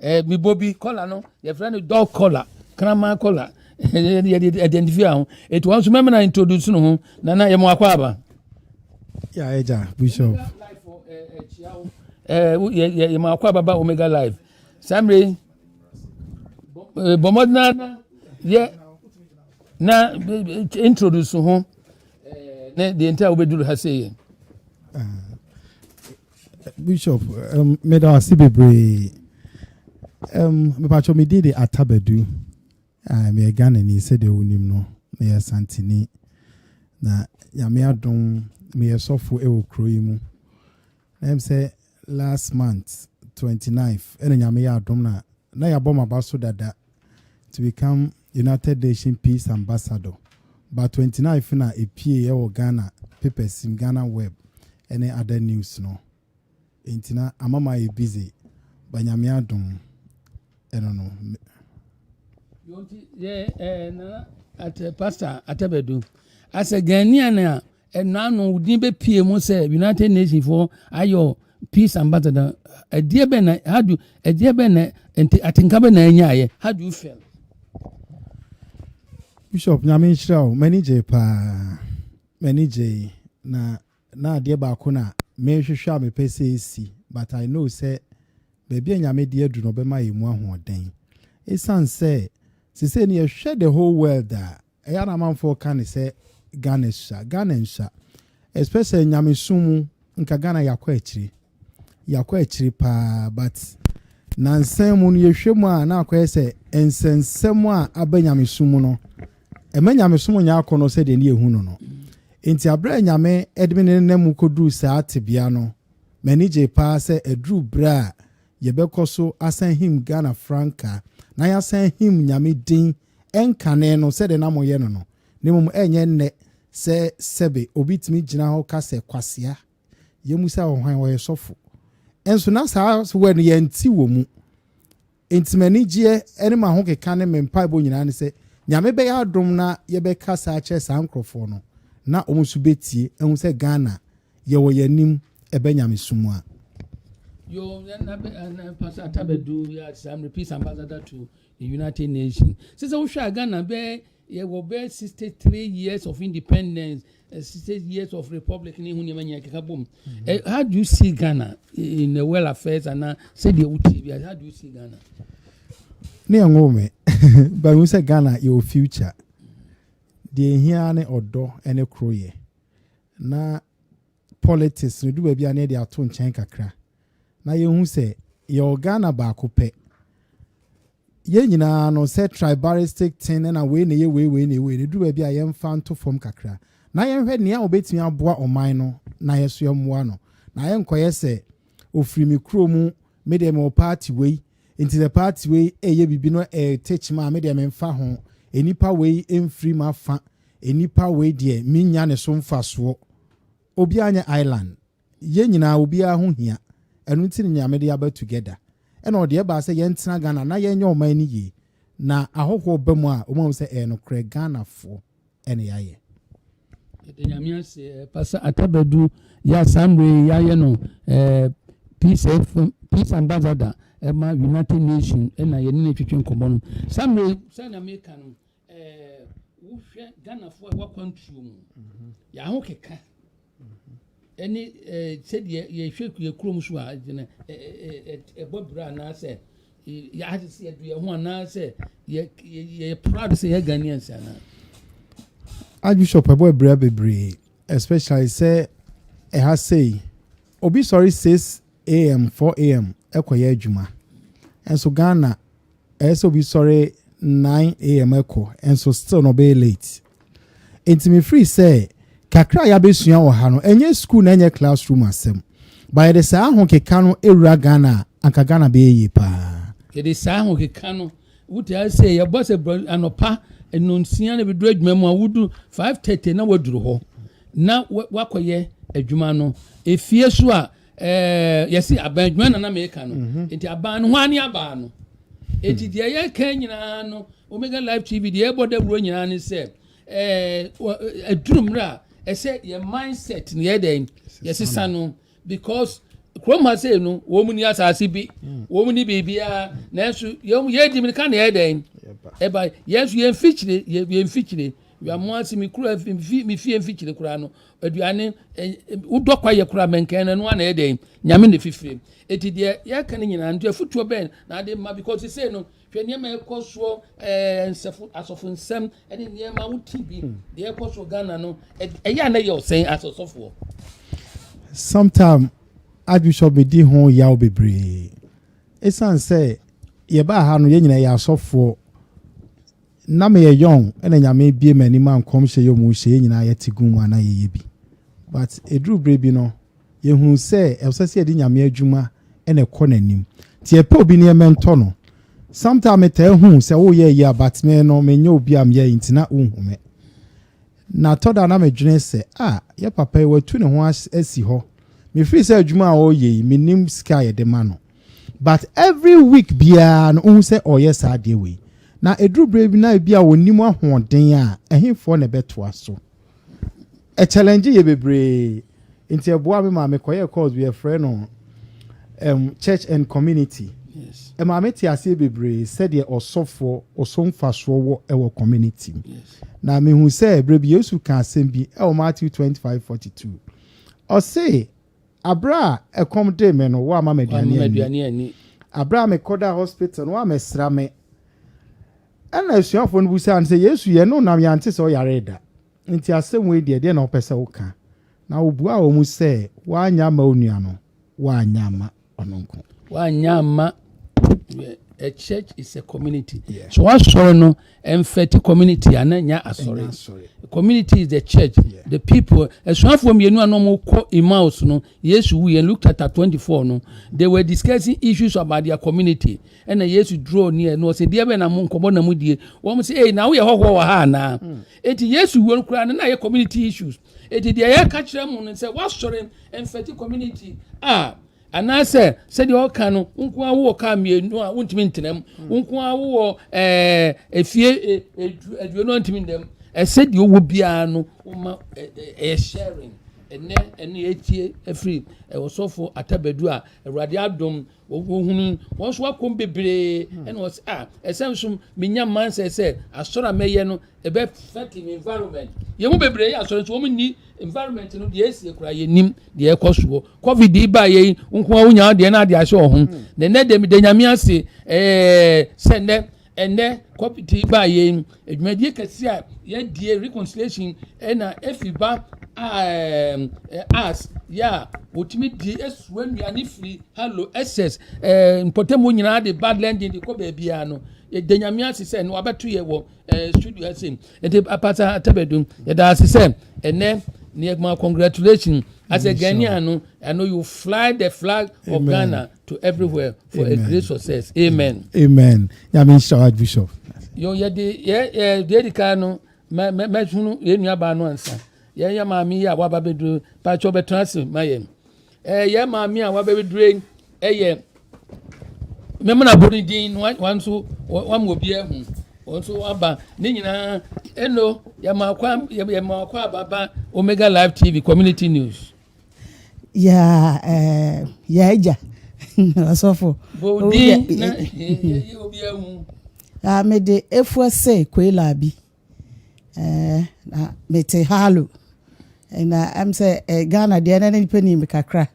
Eh, me bobi color no your friend no dog color kraman color yɛde identify ho ɛti wɔn nso mɛmɛ na introduce no ho na na yɛmɔ akɔ aba ya ɛgya bishop yɛmɔ akɔ aba ba omega live saa mmere bɔmmɔden na yɛ na introduce ho ne deɛ nti a wobɛduru ha sɛ yɛ bishop um, meda ase bebree um, mepatwɛ me din de atabadu uh, meyɛ ghanani sɛdeɛ wonim no meyɛ santini na nyame adom meyɛ sɔfo wɔ kuro yi mu na m sɛ last month 29 ɛna nyame yɛ adom na na yɛabɔ maba so dada to become United Nation Peace Ambassador but twenty nine fina epie yɛ wɔ Ghana papers sim Ghana web ɛne other news no ntina ama ma yɛ busy ba nyamea dom ɛno no. Yonti yɛ ɛɛ eh, nana ate pastor atabadu asɛ Ghanaian a Ɛno ano wo din bɛpie mu sɛ United Nations for ayɔ peace ambassador. Ɛdeɛ bɛn na how do ɛdeɛ bɛn na nti atenka bɛn na ɛnyaayɛ how do you feel? Bishop nyame nhyira o m'ani gye paa m'ani gye na na adeɛ baako na mehwehwɛ a mepɛ sɛ ɛsi but I know sɛ baabi a nyame de adu no ɔbɛma yɛ mu ahoɔden ɛsiane sɛ sesei no yɛhwɛ the whole world a ɛyɛ a na amanfoɔ ka ne sɛ Ghana asua. Ghana nsua. Especially nyamesom mu, nka Ghana yɛakɔ akyiri. Yɛakɔ akyiri paa but nansan mu no yɛhwɛ mu a na akɔyɛ sɛ nsɛnsɛm a aba nyamesom mu no ɛma nyamesom nyɛ akɔnnɔ sɛdeɛ ne yɛhu no no. Nti aberɛ a nyame de me ne nna mu kɔduru saa tebea no, m'ani gyee paa sɛ aduru berɛ a yɛbɛkɔ so asan him Ghana frankaa na yɛasan him nyame din ɛnkane no sɛdeɛ na moyɛ no no, na mmom ɛnyɛ nnɛ sɛ sɛbe obi tumi gyina hɔ ka sɛ, Kwasea, yɛmmu sɛ ɔhwan, ɔyɛ sɔfo. Nso na saa word no yɛnte wɔ mu. Enti m'anigyeɛ ne m'ahokeka ne me mpaebɔ nyinaa ne sɛ Nyame bɛyɛ adom na yɛbɛkasa akyerɛ saa nkorɔfoɔ no na wɔn nso bɛtie ahu sɛ Ghana yɛwɔ yɛn anim ɛbɛ nyamesom mu a. Yo, and, and, and Pastor Atta Badu, yes, I'm repeat ambassador to United Nations sɛ sɛ wohwɛ a Ghana bɛyɛ yɛwɔ bɛyɛ sixty three years of independence eh, sixty years of republic ne ho nneɛma nyinaa keka bom mm. eh, how do you see Ghana in the world affairs anaa sɛdeɛ wotie bi how do you see Ghana ne ɛnwo me but wo sɛ Ghana yɛwɔ future deɛ ɛhia ne ɔdɔ ne koroyɛ na politics no du baabi a na yɛde ato nkyɛn kakra na yɛhu sɛ yɛwɔ Ghana baako pɛ. Yɛn nyinaa no sɛ tribalistic ten na wei na ɛyɛ wei wei na ɛyɛ wei na ɛdu baabi a yɛmfa nto fam kakra na yɛnhwɛ nea wɔbɛtumi aboa ɔman no na yɛso yɛmmoa no na yɛnkɔyɛ sɛ ofiri me kuro mu me deɛ mewɔ party wei Nti sɛ party wei ɛyɛ biribi na ɛyɛ teach me a me deɛ me nfa ho. Enipa wei ɛnfiri m'afa. Enipa wei deɛ me nnya ne so nfasoɔ. Obiara nyɛ island. Yɛn nyinaa obiara ho hia. Ɛno nti ne Nyame de aba together. Ɛna ɔde ɛbaa sɛ yɛn tena Ghana na yɛn nyɛ ɔman no yie. Na ahɔhoɔ ba mu a wɔn ahu sɛ ɛyɛ nokorɛ Ghanafoɔ. na yɛayɛ. Yɛda Nyame ase, eh, Pastor Atabadu yɛ saa mmerɛ yi yɛayɛ no eh, peace, eh, peace ambassador eh, ma United Nations eh, na yɛne no twetwe nkɔmmɔ no saa mmerɛ yi sɛ na meka no eh, wohwɛ Ghanafoɔ a wɔakwantuo mu yɛaho keka ɛne sɛdeɛ yɛhwɛ yɛ kurom so a gyina ɛbɔ bra anaasɛ yɛade sɛ yɛde yɛn ho anaasɛ yɛyɛ proud sɛ yɛ Ghanaians anaa. Archbishop ɛbɔ abira bebree especially sɛ ɛha sei obi sɔre 6 am 4 am ɛkɔyɛ adwuma nso Ghana ɛyɛ sɛ obi sɔre nine am ɛkɔ nso still na ɔbɛyɛ late nti mi firi sɛ kakra a yabɛsua wɔ ha no ɛnyɛ school na ɛnyɛ classroom asɛm ba yɛde saa ahokeka no ewura ghana anka ghana bɛyɛ yie paa. yɛde saa ahokeka no wotaa sɛ yɛbɔ sɛ brɔ anɔpa nnonsia na bɛduru adwuma mu a wodu five thirty na waduru hɔ na wakɔyɛ adwuma no efie so a Ɛɛ, yɛsi aban adwuma na na meka no. Mm-hmm. Nti aban no, hwan ne aban no? Eti hmm. deɛ yɛka nyinaa no, Omega Live TV deɛ ɛbɔ dawuro nyinaa ne sɛ, ɛɛ, eh, aduru mmerɛ a ɛsɛ yɛ mindset no yɛ dɛn, yɛsesa no because kurom ha sei no wɔn mu ni asase bi hmm. wɔn mu ni biribiara nanso yɛn yɛn di mirika na yɛ dɛn ɛba yɛn nso yɛn mfikyire yɛn mfikyire yɛn mo ase mi kura mi fie mfikyire koraa no aduane wodɔ kwa yɛ kora mɛnkɛn no ɛnoa na ɛyɛ dɛn nyame na ɛfifire ɛti deɛ yɛka no nyinaa nti afotuo bɛn na ade ma because sei no hwɛ nneɛma ɛkɔ soɔ ɛɛ nsɛfo asɔfo nsɛm ɛne nneɛma wo ti bi hmm. deɛ ɛkɔ soɔ ghana no ɛyɛ a na yɛ ɔsɛn asɔsɔfoɔ sometime archbishop bɛdi ho yaw bebree ɛsiane sɛ yɛbaa ha no yɛn nyinaa yɛ asɔfoɔ Nna meyɛ young na Nyame ebue m'anim ma nkɔmhyɛ yi a wɔhyɛ yɛn nyinaa yɛte gu mu a na yɛyɛ bi. But eduru bere bi no, yɛhunu sɛ ɛsɛ sɛ yɛde Nyame adwuma na ɛkɔ n'anim. Nti yɛpɛ obi ne yɛ mentor no. Sometime metaa hu sɛ woyɛ ayi a but me no menyɛ obi a meyɛ nti na wonhu me. Na tɔ da na medwene sɛ ah yɛ papa yi watu ne ho asi hɔ. Mefiri sɛ adwuma a ɔreyɛ yi menim sika a yɛde ma no. but every week biara no wohu sɛ ɔreyɛ saa adeɛ wei na ɛduru berɛ bi na ebi a wɔnim ahoɔden a ɛhefoɔ na ɛbɛtoa so ɛkyɛlɛngye yɛ bebree nti ɛboa me maa mekɔyɛ course bi yɛfrɛ no um, church and community yes. ɛma mete aseɛ bebree sɛdeɛ ɔsɔfoɔ ɔsomfasoɔ wɔ ɛwɔ community mu yes. na mehu sɛ berɛ bi yesu ka asɛm bi ɛwɔ matthew 25:42 ɔse Aberɛ a ɛkɔm dee me no, woamma me aduane anni. Aberɛ a mekɔdaa hospital no, woammɛsra me. Ɛnna asuafoɔ no bisaa no sɛ, Yesu, yɛne wo nam yɛante sɛ woyaree da. Enti asɛm wei deɛ, ɛdeɛn na wopɛ sɛ woka? Na ɔbuaa wɔn sɛ, Woanyɛ amma onua no? Woanyɛ amma. ɔno nko. wanyɛ amma a church is a community yeah. so wasɔre no ɛmfɛte community ana nya asɔre community is the church yeah. the people asuafoɔ mmienu a nom kɔ emmaus no yesu wu yɛn luke chapter twenty four no they were discussing issues about their community ɛna yesu draw near no ɔsɛ deɛ bɛ na mo nkɔbɔ na mo die wɔn sɛ ee na woyɛ hɔhoɔ wɔ ha anaa hmm. eti yesu wu no koraa no na yɛ community issues Enti deɛ yɛka kyerɛ mu no sɛ woasɔre mfɛte community a anaasɛ sɛdeɛ ɔka no wo nko ara wowɔ kaa mmienu a wontumi ntena mu hmm. wo nko ara wowɔ eh, efie eh, eh, aduonu a ntumi nnam ɛsɛ deɛ ɔwɔ biara no woma ɛyɛ sharing ɛnɛ ɛne ɛtie afiri ɛwɔsɔfo atabadu a awurade adom Ohunuu wɔn so akɔm bebree, hmm. ɛna ɔsɛ a ah, ɛsɛn so menya mansɛ sɛ asɔrɔ a mɛyɛ no ɛbɛ fɛti mi environment yɛn mu bebree yɛ asɔrɔ nso wɔn ni environment no deɛ esi ekura yɛ nim deɛ ɛkɔ soɔ covid yi ba yɛ yi nko a wonya deɛ na adeɛ ahyɛ ɔho hmm. na ɛnɛ deɛ mi de nyame ase ɛɛ sɛ nnɛ Ɛnnɛ kɔpiti baa yei dwumadie kɛseɛ a yɛadie reconciliation ɛna efi ba as yɛ a wɔtumi di esua nnuane firi hello excess ɛɛ mpɔtamu nyinaa de ba lending de kɔ baabiara no yɛda nyame ase sɛ no wabɛto yɛ wɔ ɛɛ studio ɛsɛ ɛde apata atabɛdum yɛda ase sɛ ɛnɛ nneɛma congratulation as a ghanaian no ɛno you fly the flag of ghana. to everywhere for Amen. a great success amen. amen nyame nhyira wa bishop. yo yɛde yɛ yɛ deɛ di kan no mɛ mɛ mɛhunu yɛn nua baa no ansa yɛn yɛ maame yi a waba bɛduro patsɔ bɛtena ase ma yɛn ɛɛ yɛn maame a waba bɛduro yi ɛyɛ mɛmuna bɔ ne din no wɔn nso wɔn mu obi ɛho wɔn nso aba ne nyinaa ɛno yɛ maa kwan yɛ maa kwan ababa omega live tv community news. yɛ yɛ agya ɔsɔfo mede efua sɛ koila bi na mete halo na ɛm sɛ ghana deɛ na nipa nim kakra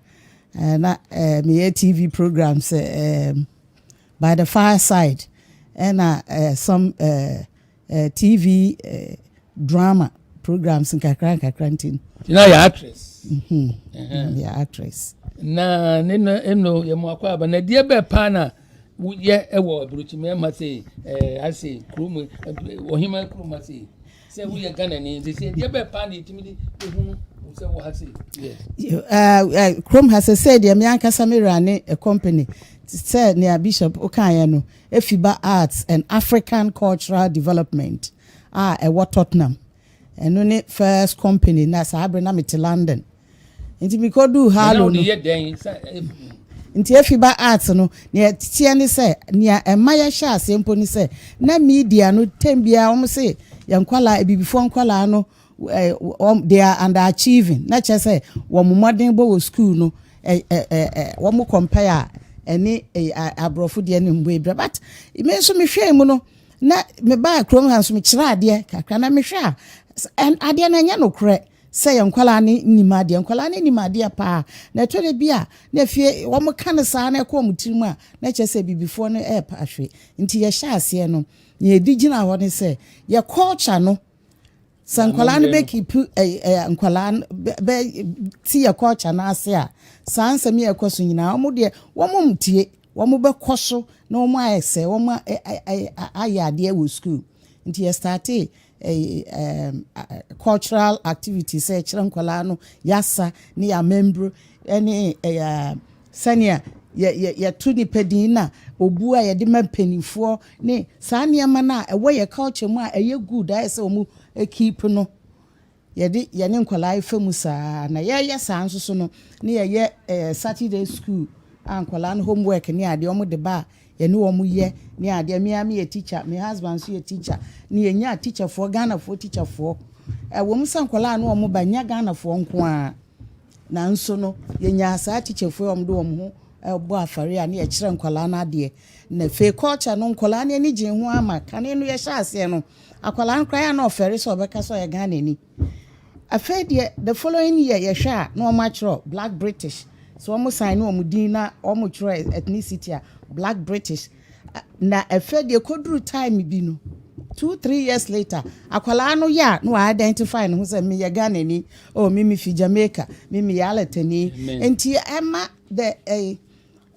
na meyɛ tv program sɛ by the fireside ɛna some eh, TV eh, drama programs nkakra nkakra nti no. na yɛ actress. Mm-hmm. Uh-huh. yɛ actress. na ne no ɛno yɛ mu akɔ aba na deɛ bɛɛ paa na woyɛ ɛwɔ aburokyi mɛɛma se ɛɛ ase kurom ɔhema kurom ase sɛ woyɛ ghana ni nti sɛ deɛ bɛɛ paa na yɛtumi de ehunu sɛ wɔ ha se. kurom ha sɛ sɛ deɛ mi ankasa mi ra ne company sɛ nea bishop okaayɛ no Efiba Arts and African Cultural Development a ɛwɔ Tottenham. Ɛno ne first company na saa bere na mete London. Nti mekoduu Harlow no. Nti Efiba Arts no, nea ɛteɛ ne sɛ, nea ɛma yɛhyɛ aseɛ mpo ne sɛ, na media no tɛm biara wɔn se yɛn nkwadaa, abibifoɔ nkwadaa no, wɔn they are under achieving na kyerɛ sɛ wɔn mmɔden bɔ wɔ school no ɛ ɛ ɛ wɔn compare a ɛne aborɔfo deɛ no mbɔ ebira but me nso mehwɛɛ mu no na mebaa kurom ha nso mekyerɛ adeɛ kakra na mehwɛ a adeɛ no ɛnyɛ nokorɛ sɛ yɛn nkwadaa no nim adeɛ nkwadaa no nim adeɛ paa na ɛtɔ da bi a na afie wɔn ka no saa na ɛkɔ wɔn tirim a na kyerɛ sɛ bibifoɔ no ɛrepa ahwe nti yɛhyɛ aseɛ no yɛdi gyina hɔ ne sɛ yɛ culture no sɛ nkwadaa no bɛ keep ɛɛ ɛɛ nkwadaa no bɛ bɛ ti yɛ culture no ase a saa nsɛm yɛ ɛkɔ so nyinaa wɔn deɛ wɔn ntie wɔn bɛkɔ so na wɔn ayɛ sɛ wɔn ayɛ adeɛ wɔ school nti yɛ starte ɛɛ eh, ɛɛ eh, cultural activities sɛ ɛkyerɛ nkwadaa no yasa ne yɛ amembro ɛne ɛɛ. Sɛnea yɛto nnipa din na obu a yɛde ma mpanimfoɔ ne saa nneɛma no a ɛwɔ yɛn culture mu a ɛyɛ good a ɛyɛ sɛ wɔn keep no, yɛde yɛne nkwadaa refa mu saa ara. Na yɛyɛ saa nso so no, na yɛyɛ ɛɛ Saturday school a nkwadaa no homework ne adeɛ wɔn de ba a yɛne wɔn yɛ ne adeɛ. Me ara meyɛ teacher, me husband nso yɛ teacher. Ne yɛnya teacherfoɔ, Ghanafoɔ teacherfoɔ. Ɛwɔ mu sɛ nkwadaa no wɔn ba nya Ghanafoɔ nko ara. Nanso no, yɛnyaa saa tikyafoɔ yi a wɔde wɔn ho bɔ afɔreɛ a ne yɛkyerɛ nkwadaa no adeɛ. Na afei culture no, nkwadaa no ani gyee ho ara ma kane no yɛhyɛ aseɛ no, akwadaa no koraa yɛ a na ɔfɛre sɛ ɔbɛka sɛ ɔyɛ Ghanani. Afei deɛ the following year yɛhwɛ a na wɔatwerɛ Black British, so wɔsan ne wɔn din na wɔtwerɛ ethnicity a Black British. Na ɛfɛ deɛ koduru time bi no two three years later akwadaa no yɛ a na wa identify ne ho sɛ me yɛ Ghana ni oh me me fi Jamaica me me yɛ alatani nti ɛma the ɛɛ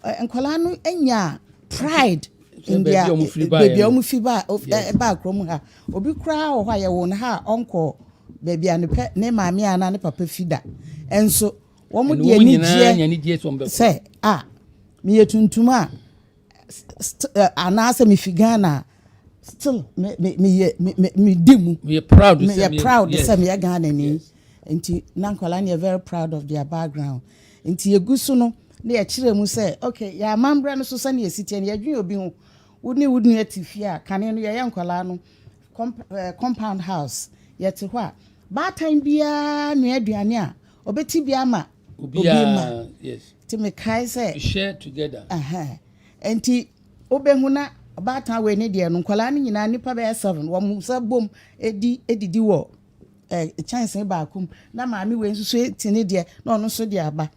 eh, nkwadaa no nya pride in their baabi a wɔn fi ba ɛba kurom ha obi koraa wɔ hɔ a yɛwɔ no ha a ɔnkɔ baabi a ne pɛ ne maame anaa ne papa fi da nso wɔn de anigyeɛ sɛ a meyɛ tuntum a. st eh, anaasɛ mefi ghana a still me me meyɛ me me medi mu meyɛ proud sɛ meyɛ meyɛ proud sɛ yes meyɛ ghana ni yes nti na nkwadaa no yɛ very proud of their background nti yɛgu so no na yɛkyerɛ mu sɛ okay yɛ amammerɛ no so sɛnea ɛsi teɛ no yɛdwene obi ho wo ne wo nua te fie a kane no yɛyɛ nkwadaa no comp- eh, compound house yɛte hɔ a baatan biara nua aduane a ɔbɛti bi ama obi ma nti mekae sɛ nti wobɛhu na ɔbaatan wei ne deɛ no nkwadaa no nyinaa nnipa bɛyɛ seven wɔn nsa bom di didi wɔ kyɛnsee baako mu na maame wei nso so ti ne deɛ na ɔno nso de aba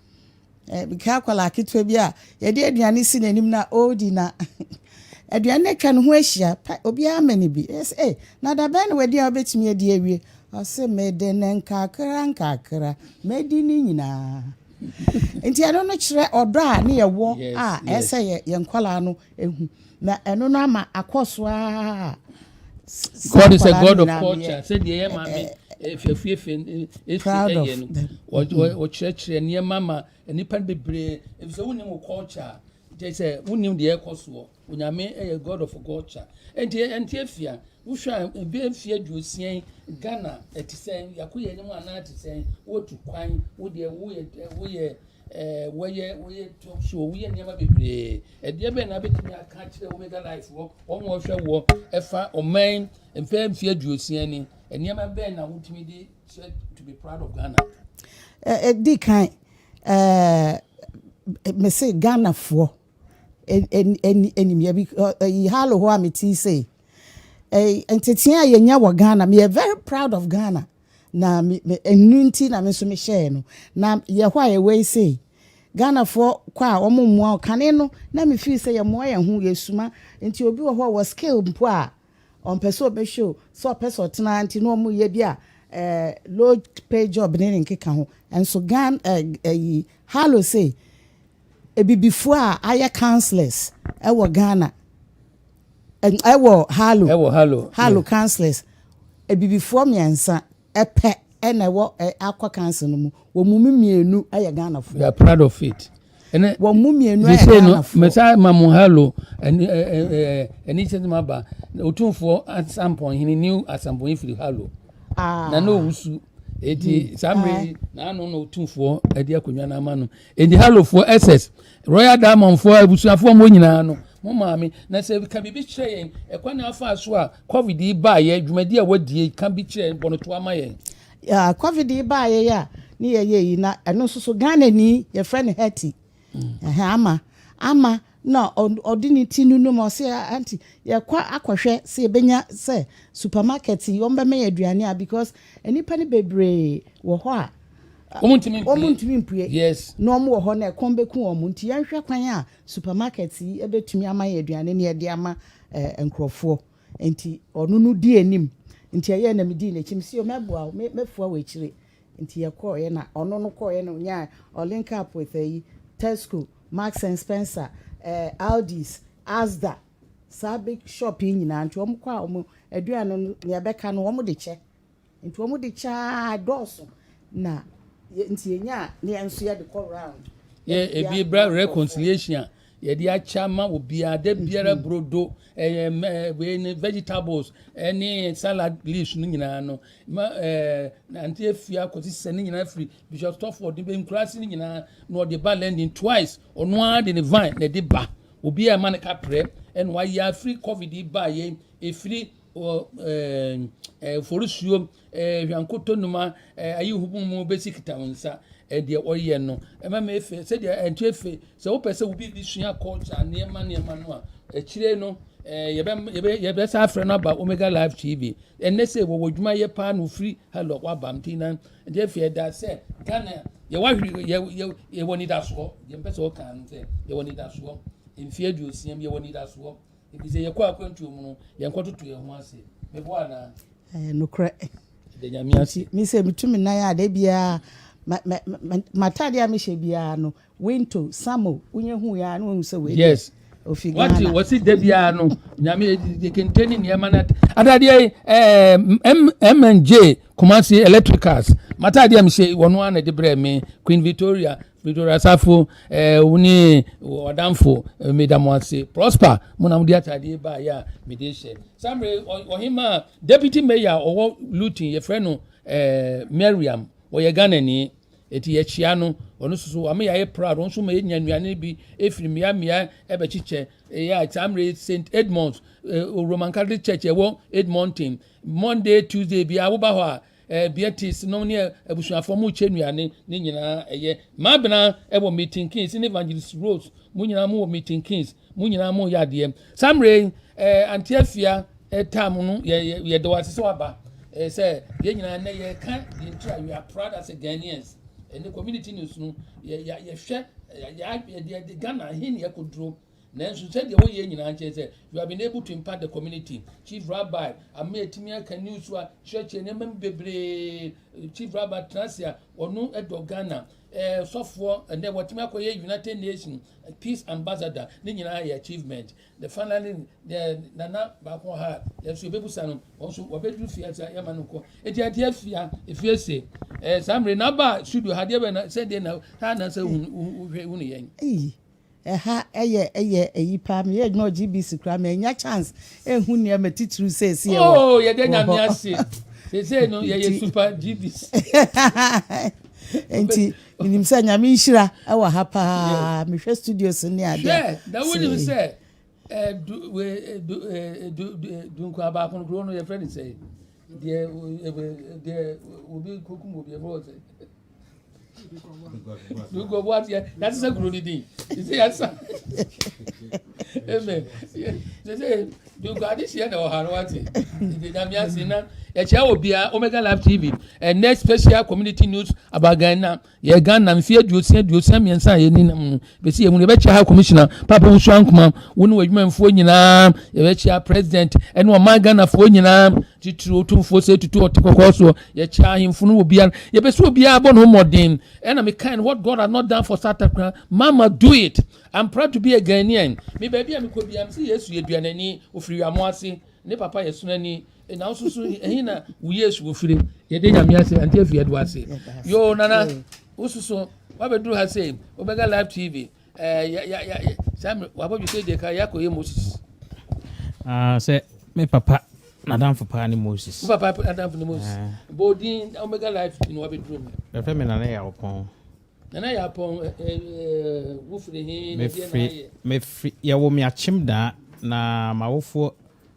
bika akwadaa ketewa bi a yɛde aduane si n'anim na ɔredi na aduane no atwa ne ho ahyia obiara ma ne bi ɛsɛ ɛ na dabɛn na wadi a wobɛtumi adi awie Ɔse mede no nkakra nkakra mɛdi ne nyinaa Nti ɛno no kyerɛ ɔdɔ a ne yɛwɔ a ɛsɛ yɛ yɛn nkwadaa no ɛhu Na ɛno no ama akɔ so a God is a God of culture sɛdeɛ yɛ maame fɛfuefɛ ɛsi ɛyɛ no wɔkyerɛkyerɛ nneɛma ma nnipa bebree ɛfisɛ wonim wo culture kyɛ sɛ wonim deɛ ɛkɔ soɔ Onyame yɛ God of culture. Enti ɛnte afia. Wohwɛ a ebɛyɛ mfie aduosia yi Ghana ɛte sɛn? Yɛako yɛn anim anaa ɛte sɛn? Wotu kwan, wodeɛ woyɛ woyɛ ɛɛ wɔyɛ wɔyɛ talk show, woyɛ nneɛma bebree. Ɛdeɛ bɛn na abɛtumi aka akyerɛ Omega Life wɔ wɔn a wɔhwɛ wɔ ɛfa ɔman mpɛɛ mfie aduosia ni. Nneɛma bɛn na wotumi de sɛ to be proud of Ghana? Ɛdi kan ɛɛ mese Ghanafoɔ animia bi ɛyi halo hɔ a me ti sɛ ɛyi ntetea a yɛnya wɔ ghana me yɛ very proud of ghana na me me ɛnu nti na me nso me hyɛɛ no na yɛ hɔ a yɛ wei sɛ ghanafoɔ kɔ a wɔn mmoa kane no na me feel sɛ yɛ mmoa yɛn ho yɛ suma nti obi wɔ hɔ wɔ skill mpo a ɔmpɛ sɛ ɔbɛhwɛ o sɛ ɔpɛ sɛ ɔtena nti na wɔn yɛ bi a ɛɛ low pay job ne ne nkeka ho nso ghana ɛyi halo sɛ. Abibifoɔ a ayɛ councillors wɔ Ghana, wɔ Harlow. Wɔ Harlow. Harlow councillors. Abibifoɔ mmiɛnsa pɛ na ɛwɔ Akwa council no mu. Wɔn mu mmienu yɛ Ghanafoɔ. We are proud of it. Wɔn mu mmienu yɛ Ghanafoɔ. Mesa ma mo Harlow ɛni ɛni kyɛ ma ba otumfoɔ asampɔnhene new asampɔnhene firi Harlow. Ah. Na na owusu. Eti saa mmiri na ano na otumfoɔ ɛde akonnwa no ama no. Enti Halofoɔ, SS, Royal Diamondfoɔ, abusuafoɔ mo nyinaa no, mo maame, na sɛ ka biribi kyerɛ yɛn, ɛkwan na afa so a COVID yi baeɛ, dwumadi a wadie, ka bi kyerɛ yɛn, bɔ no toa ma yɛn. Yeah, COVID yi baeɛ a ne yɛyɛ yi, na ɛno nso so Ghanani, yɛfrɛ no Hetty. Mm. Ɛhɛn, ama, ama na ɔde ne ti nunum, ɔse aunty yɛkɔ akɔhwɛ sɛ yɛbɛnya sɛ supermarket yi wɔbɛma yɛ aduane a because nnipa no bebree wɔ hɔ a wɔn ntumi mpue na wɔn wɔ hɔ na ɛkɔm bɛku wɔn nti yɛnhwɛ kwan a supermarket yi bɛtumi ama yɛ aduane na yɛde ama nkurɔfoɔ. Nti ɔno no dii anim. Nti ɛyɛɛ na medii n'akyi. Mese, o, mɛboa wo, me, mɛfoa wo akyire. Nti yɛkɔeɛ na ɔno no kɔeɛ na ɔnyaa, ɔlink up with ayi, Tesco, Marks and Spencer, eh, Aldi's, Asda, saa big shop yi nyinaa. Nti wɔkɔ a wɔn, aduane no, deɛ ɛbɛka no wɔde kyɛ. Nti wɔn de kyɛ aa dɔɔso na yɛ nti yɛ nya a ne yɛ nso yɛ de kɔ round. Yɛ ebi bra reconciliation a yɛ de akyɛ ama wɔ biara da biara mm-hmm. brodo ɛyɛ mɛ wei ne vegetables ɛne salad leaves no nyinaa no ma ɛɛ nante efi akɔsi sɛ ne nyinaa firi bishop stoford ne bɛ nkurase ne nyinaa na ɔde ba lending twice ɔno ara de ne vine na ɛde ba obi a ɛma ne kaprɛ ɛna wayɛ afiri covid ba yɛ efiri. wɔ ɛɛ forisuo ɛɛ hwankoto numa ɛɛ ayi hubu mu bɛsi kita wɔn nsa ɛdeɛ ɔyɛ no ɛma mi efe sɛdeɛ ɛnkyɛ efe sɛ wopɛ sɛ obi bi sua culture nneɛma nneɛma no a akyire no ɛɛ yɛbɛ yɛbɛ yɛbɛ sa afrɛ no aba omega live tv ɛnɛ sɛ wɔwɔ adwuma yɛ paa na ofiri hello waba nti na ɛdeɛ efe ɛda sɛ ghana yɛwɔ ahwiri yɛ yɛ yɛwɔ nidasoɔ yɛn pɛ sɛ ɔkan no sɛ yɛwɔ nidasoɔ mfie aduosia mu yɛwɔ nidasoɔ. Enti sɛ yɛkɔ akwantuo mu no, yɛnkɔtoto yɛn ho ase. Meboa anaa? Ɛyɛ nokorɛ. Da Nyame ase. Me sɛ metu me nan a, da biara m'ataadeɛ a mehyɛ biara no, Winto, Samo, wonyɛ hu yɛ a na wahu sɛ wei deɛ. Yes. Ofi Ghana. Wate wɔsi da biara no, Nyame de kente ne nneɛma na ataadeɛ yi ɛɛ MNJ Kumasi Electricals m'ataadeɛ a mehyɛ wɔn ara na de brɛ me Queen Victoria Victoria Asafo ɛɛ eh, wo ne ɔdanfo eh, meda mo ase prosper mo na mo de ataadeɛ baayɛ a mede hyɛ samre ɔhema deputy mayor ɔwɔ luton yɛfrɛ no ɛɛ eh, mariam ɔyɛ ghanani eti yɛkyia no ɔno soso ama yɛayɛ proud ɔno nso ma yɛnya nnuane bi efiri mmea mmea ɛbɛkyekyɛ ɛyɛ a samre st edmunds ɛɛ roman catholic church ɛwɔ edmonton monday tuesday bi awoba hɔ a. Ɛɛ Beatrice nom ne abusuafoɔ mo kyɛ nnuane ne nyinaa ɛyɛ maa benaa ɛwɔ meeting kings ne evangelist rose mo nyinaa mo wɔ meeting kings mo nyinaa mo yɛ adeɛ saa mmerɛ yi ɛɛ anti afia ɛtaa mo no yɛ yɛ yɛ dɔwɔ ase sɛ waba ɛɛ sɛ yɛn nyinaa nɛ yɛ ka yɛn tira we are proud as a Ghanaians ɛne community news no yɛ yɛ yɛhwɛ yɛ yɛ yɛ de Ghana hin yɛ koduro Nanso sɛdeɛ wɔyɛ nyinaa kyerɛ sɛ you have been able to impact the community, Chief Rabbi, ama yɛatumi aka news a kyerɛkyerɛ nneɛma mu bebree. Chief Rabbi tena ase a ɔno dɔ Ghana. Eh, sɔfoɔ ɛnɛ wɔatumi akɔyɛ United Nations eh, Peace Ambassador ne nyinaa yɛ achievement. The finally eh, nana baako ha yɛnso yɛbɛbusa no wɔn nso wɔbɛduru fie ase a yɛma no nkɔ. Eti adeɛ afia efie se eh, saa mmerɛ na aba studio ha deɛ bɛ na sɛdeɛ na ha na sɛ wohwɛ hu ne yɛn. Eyi Ɛha ɛyɛ ɛyɛ ɛyi paa meyɛ adwuma wɔ GBC koraa mɛnya chance ɛhu nneɛma titiriw sɛ ɛsi ɛwɔ oh yɛde nyame ase sɛsɛ no yɛyɛ super GBC nti menim sɛ nyame nhyira ɛwɔ ha paa mehwɛ studios ne adeɛ hwɛ na wonim sɛ eh, eh, eh, dunkwaa baako no kuro no yɛfrɛ ne sɛ Deɛ deɛ obi kokum obi ɛfɔ ɔsɛ. Dukɔ bu ati yati sɛ kuro ni din sɛ yati sa ɛmɛ sɛ dukɔ adi si yɛ na ɔha no wati nyame ase na ɛkyɛ obiara Omega Live TV ɛnɛ special community news about Ghana. Yɛ Ghana mfeɛ aduosia aduosia mmiɛnsa a yɛni nam no bɛsi yɛ mu no yɛbɛkyia ha commissioner Papa Wusu Ankoma wo ne w'adwumanfoɔ nyinaa yɛbɛkyia president ɛne ɔman Ghanafoɔ nyinaa titiri otumfoɔ sɛ tutu ɔte kɔkɔɔ soɔ yɛkyia ahemfo no obiara yɛbɛsi obiara bɔ ne ho mmɔden ɛna mekae no what God has not done for South Africa man must do it I'm proud to be a Ghanaian me baabi a mekɔ biara me sɛ Yesu yɛduanani ofiri wiamo ase ne papa yɛ sonani Na nso so ɛhe na wo yesu ofiri yɛde nyame ase ante afie do ase yo nana wososo wabɛduru ha sɛ wobɛga live tv saa mmerɛ wabɔdwe sɛ deɛ ka yɛakɔ yɛ moses ah, sɛ me papa nadamfo paa ne moses wo papa nadamfo ne moses ah. bɔɔdin omega live ne wabɛduru mu ɛfɛ me nana yɛ awopɔn nana yɛ apɔn wofiri he mefiri yɛwo me akyem daa na mawofoɔ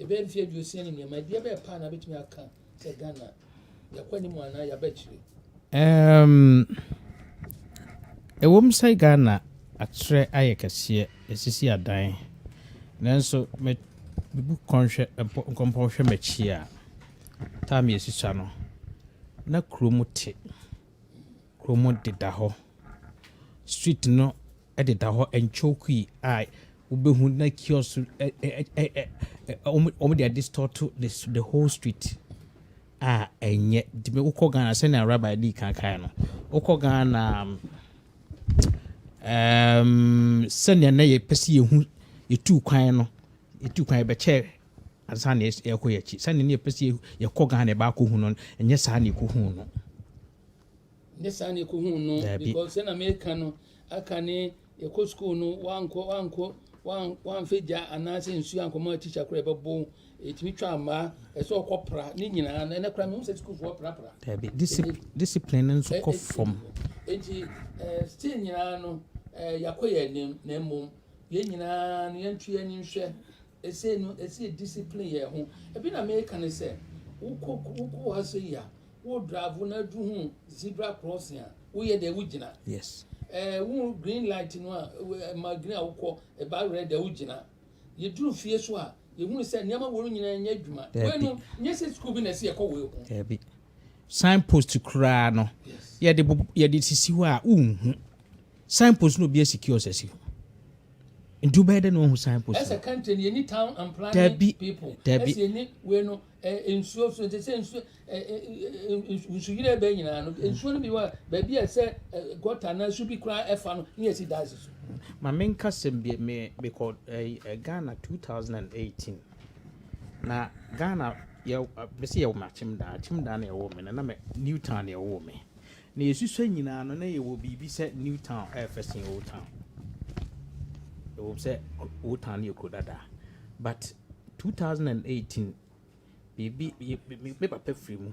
Ɛbɛyɛ mfeɛ aduosia ne nneɛma, ɛdeɛ bɛyɛ paa na abɛtumi aka sɛ Ghana yɛkɔ anim anaa yɛaba akyire? Um, ɛwom sɛ Ghana akyerɛ ayɛ kɛseɛ, ɛsisi adan, nanso me mebu kɔnhwɛ nkɔmpɔn hwɛ m'akyi a, taa me asisa no, na kurom te, kurom deda hɔ, street no de da hɔ nkyokwi a wobɛhu na kiosk so wɔde adistɔɔto the whole street a ɛnyɛ tumi wokɔ Ghana sɛnea rabbi dii kan kae no wokɔ Ghana um, sɛnea na yɛpɛ sɛ yɛhu yɛtu kwan no yɛtu kwan yɛbɛkyɛ ansa na yɛkɔ yɛakyi sɛnea na yɛpɛ sɛ yɛkɔ Ghana yɛbaakɔhu no ɛnyɛ saa na yɛkɔhu no Nyɛ saa na ekohuu no, Daabi. because sɛ na meka no aka ne yɛkɔ school no wankɔ wankɔ wan wanfa gya anaasɛ nsuo ankɔma teacher koraa ɛbɛbo ɛtumi twa mmaa ɛsɛ ɔkɔ pra ne nyinaa na ɛnɛ koraa mehu sɛ sukuufoɔ prapra Daabi. Disip Ɛnɛ- discipline no nso kɔ fam. Enti eh, still nyinaa no eh, yɛakɔ yɛn anim na mmom yɛn nyinaa no yɛnto yɛn ani nhwɛ Ɛsei no, ɛsɛ yɛ discipline yɛn ho. Ɛbi na meka ne sɛ, wo kɔ, wo kɔ ha sɛ yi a, wo drive na aduru ho zebra crossing a, wo yɛ dɛ, wo gyina. Yes. Ɛɛ, wo hu green light no a, ɛma green a wo kɔ, ɛba red a wo gyina. Yɛ duru fie so a, yɛ hunu sɛ nneɛma wei no nyinaa nyɛ adwuma. Daabi. Wei no, nyɛ sɛ school bi na ɛsɛ yɛ kɔ wei ho. Daabi. Sign post koraa no yɛde bob yɛde sisi hɔ a wonhu. Sign post no obi asi kiosk asi hɔ. Nti wobɛyɛ dɛ na wahu sign post Ɛsɛ no. country no yɛni town and planning Dabi, people. dabi. Ɛsɛ yɛni wei no ɛ nsuo so nti sɛ nsuo ɛ ɛ ɛ nsu nsuyiri ɛbɛ nyinaa no nsuo no bi wɔ baabi a ɛsɛ ɛ gutter anaa su bi koraa ɛfa no ne yɛsi dais so. Ma menka sɛm bi me mekɔ ɛyi ɛ Ghana 2018. Na Ghana yɛw ɛ mese yɛwo me Akyemdaa, Akyemdaa na ɛwoo me no na me New Town na ɛwoo me. Na yɛsusua nyinaa no na yɛwɔ biribi sɛ New Town ɛyɛ fɛ sen Old Town. Ɛwom sɛ Old Town no yɛ kuro dada but 2018 biribi me papa firi mu.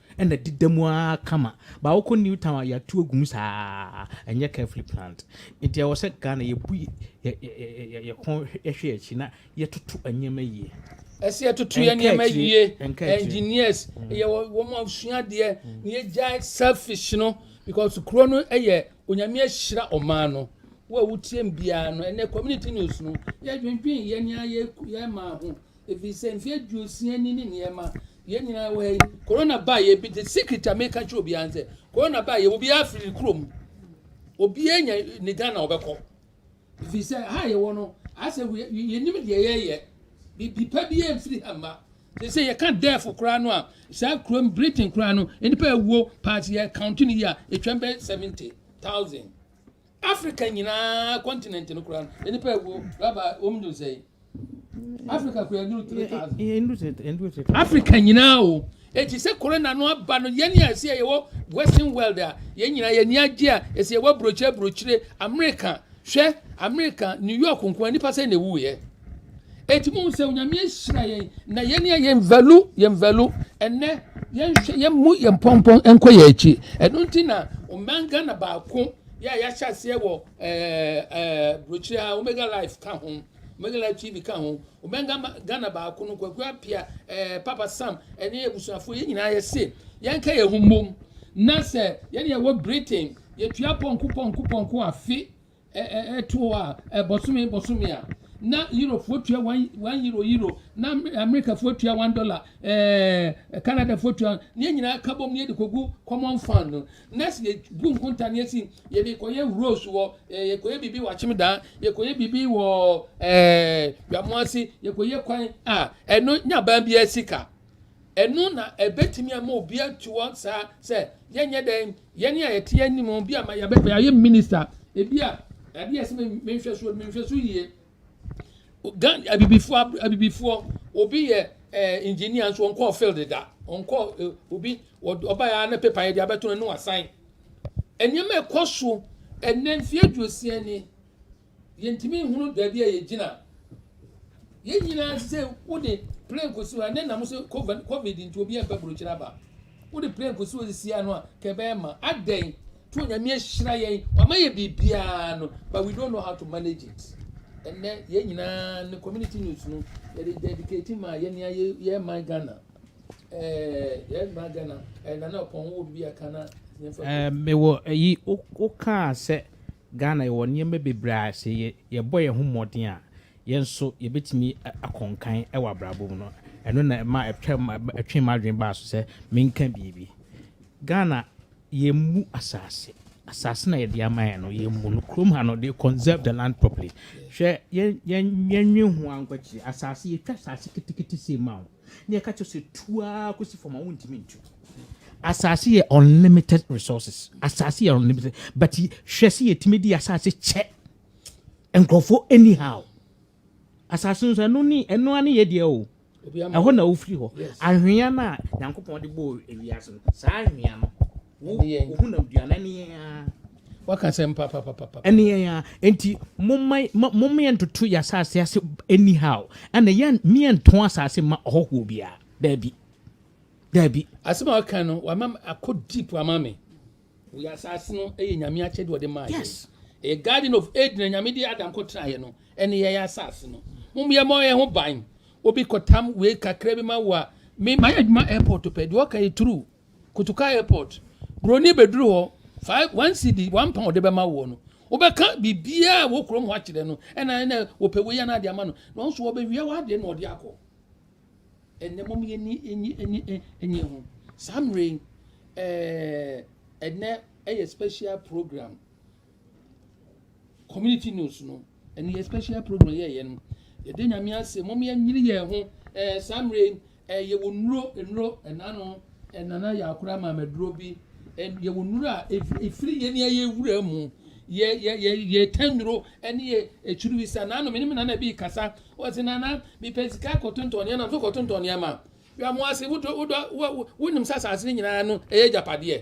Ɛna ɛdeda mu ara kama. But wokɔ New Town a yɛatu agu mu saa. Ɛnyɛ carefully planned. Nti ɛwɔ sɛ Ghana yɛbu yɛn kɔn hwɛ yɛn akyi na yɛtoto nneɛma yie. Ɛsɛ yɛtoto yɛn nneɛma yie. Engineers, yɛwɔ wɔn a wɔsua adeɛ na yɛgyae selfish no because kuro no yɛ Onyame ahyira ɔman no. Wo a wotie me biara no, ɛnɛ community news no, yɛdwendwen yɛn ara yɛn mmaa ho. Efisɛ mfe aduosia ni ne nneɛma yɛn nyinaa wɔ ha yi, korona baa yɛ bi de secret a meka kyerɛ obiara nsɛ, korona baa yɛ obiara firi kurom. Obiara nya ne Ghana ɔbɛkɔ. Efisɛ ha yɛwɔ no, asɛ yɛnim deɛ yɛyɛ. Bibi pa biara mfiri ha mma. Te sɛ yɛka death koraa no a, saa kurom Britain koraa no, nnipa awuo paa sɛ yɛ count no yi a, ɛtwam bɛyɛ 70,000. Afrika nyinaa kɔntinɛnt no koraa no, nnipa awuo raba wɔn duru sɛn? Afrika koraa duru three thousand. Afrika nyinaa o. Eti sɛ corona no aba no, yɛn a ɛsɛ yɛwɔ western world a, yɛn nyinaa yɛn ani agye a ɛsɛ yɛwɔ aburokyire aburokyire Amerika. Hwɛ Amerika, New York nko ara nipa sɛ na ewuiɛ. Enti mo sɛ onyame ahyira yɛn na yɛn yɛ yɛn value yɛn value ɛnɛ yɛn hwɛ yɛn mu yɛn pɔnpɔn nkɔ yɛn akyi ɛno nti na ɔman Ghana baako yɛ a yɛahyɛ aseɛ wɔ ɛɛ ɛɛ burokyia omega life ka ho omega life tv ka ho ɔman Ghana baako no kwaku apia ɛɛ papa sam ɛne abusuafoɔ yɛn nyinaa yɛse yɛn ka yɛn ho mmom na sɛ yɛn yɛ wɔ britain yɛtua pɔnko pɔnko pɔnko afe. ɛtoɔ a bɔsome bɔsome a na Europefoɔ tua one one euro euro na Americafoɔ tua one dollar ɛɛ Canadafoɔ tua ne yɛn nyinaa ka bom ne yɛde kɔgu common fund no na sɛ yɛbu nkonta ne yɛsi yɛde kɔyɛ rose wɔ ɛɛ yɛkɔyɛ biribi wɔ akyem daa yɛkɔyɛ biribi wɔ ɛɛ dwamoase yɛkɔyɛ kwan a ɛno nya baa biara sika. Ɛno na ɛbɛtumi ama obi atu wɔn saa sɛ yɛnyɛ dɛn yɛne a yɛte anim bi ama yɛayɛ minista ebi a adeɛ ɛsɛ menhwɛsoɔ menhwɛso yie gan abibifoɔ abibifoɔ obi yɛ ɛɛ eh, engineer nso ɔnkɔɔ field da ɔnkɔɔ eh, obi ɔba yɛ ne pepa yɛ de abɛto no ne wasan nneɛma ɛkɔ so ɛnɛ mfeɛ aduosia ni. Yɛntumi nhunu baabi a yɛgyina. Yɛn nyinaa te sɛ wode plane kɔsi hɔ a, ne nam so covid covid nti obi ɛmpɛ burokyerɛ aba. Wode plane kɔsi hɔ sisi ano a, ka ɛbɛyɛ ma. Adɛn? To Nyame ahyira yɛn, wama yɛ biribiara no, but we don't know how to manage it. Ɛnɛ yɛn nyinaa ne community news no, yɛde dedicate ma yɛn nea yɛ yɛ man Ghana. Ɛɛ yɛn man Ghana, ɛɛ nana ɔpɔn wo biribi aka na yɛmfa. Ɛɛ mewɔ ɛyi, wokaa sɛ. Ghana yɛwɔ nneɛma bebree a sɛ yɛbɔ yɛn ho mmɔden a, yɛn nso yɛbɛtumi akɔ nkan wɔ abrabɔ mu no. Ɛno na ɛma ɛtwee m'adwene baa so sɛ menka biribi. Ghana yɛmmu asase, asase na yɛde ama yɛn no yɛmmu no. Kurom ha no they conserve the land properly. Hwɛ yɛn yɛn yɛnnwen ho ara nkɔ akyire. Asase yɛtwa asase ketekete sei ma wo. na yɛka kyerɛ sɛ tu ara kɔsi fam a wontumi ntu. Asase yɛ unlimited resources. Asase yɛ unlimited. But hwɛ sɛ yɛtumi de asase kyɛ nkurɔfoɔ anyhow. Asase nso ɛno ne ɛno ane yɛ deɛ o. Ɛhɔ na wofiri hɔ. Anhwea no a Nyankopɔn de bɔɔ ewiase no, saa anhwea no waka sɛm papapapa ɛne yɛn a nti mommyɛ ntoto yɛ asase ase anyhow ɛna yɛn mmyɛ nto asase ma ɔhɔhoɔ biara daabi daabi asɛm a ɔka no wama akɔ deep ama me wɔ asase no ɛyɛ nyame akyɛde ɔde maa yɛ yes. a garden of eden nyame de adam kɔ tra yɛ no ɛne yɛ yɛ asase no mommyɛ ma ɔyɛ ho ban obi kɔtam wei kakra bi ma wo a me ma yɛ adwuma airport pɛ deɛ ɔka yɛ true Kotoka Airport, Buroni bɛduru hɔ, five, one CD, one pound de bɛma woɔ no, wobɛka biribiara wɔ kurom hɔ akyerɛ no, ɛna ɛna wɔpɛ wei ana ade ama no, na ɔnso wɔbɛwia w'adeɛ na ɔde akɔ. Ɛnɛ mom yɛni enyi enyi enyi ho. Saa mmerɛ yi, ɛɛ, ɛnɛ ɛyɛ special program. community news no ɛne yɛ special program yɛyɛ no yɛde nyame ase mom yɛnyere yɛn ho ɛɛ saa mmerɛ yɛwɔ nnuro nnuro ɛna no ɛnana yɛ akora maamaduro bi yɛwɔ nnuro a ɛfiri yɛn ni ɛyɛ wura mu yɛ yɛ yɛ yɛ tɛn nnuro ɛne yɛ akyiri bi sa naano menim nana bi kasa wɔsi nana mepɛ sika kɔtontɔn nneɛma nso kɔtontɔn nneɛma yɛ mo ase wodɔ wodɔ wonim sɛ asase no nyinaa no ɛyɛ gyapadeɛ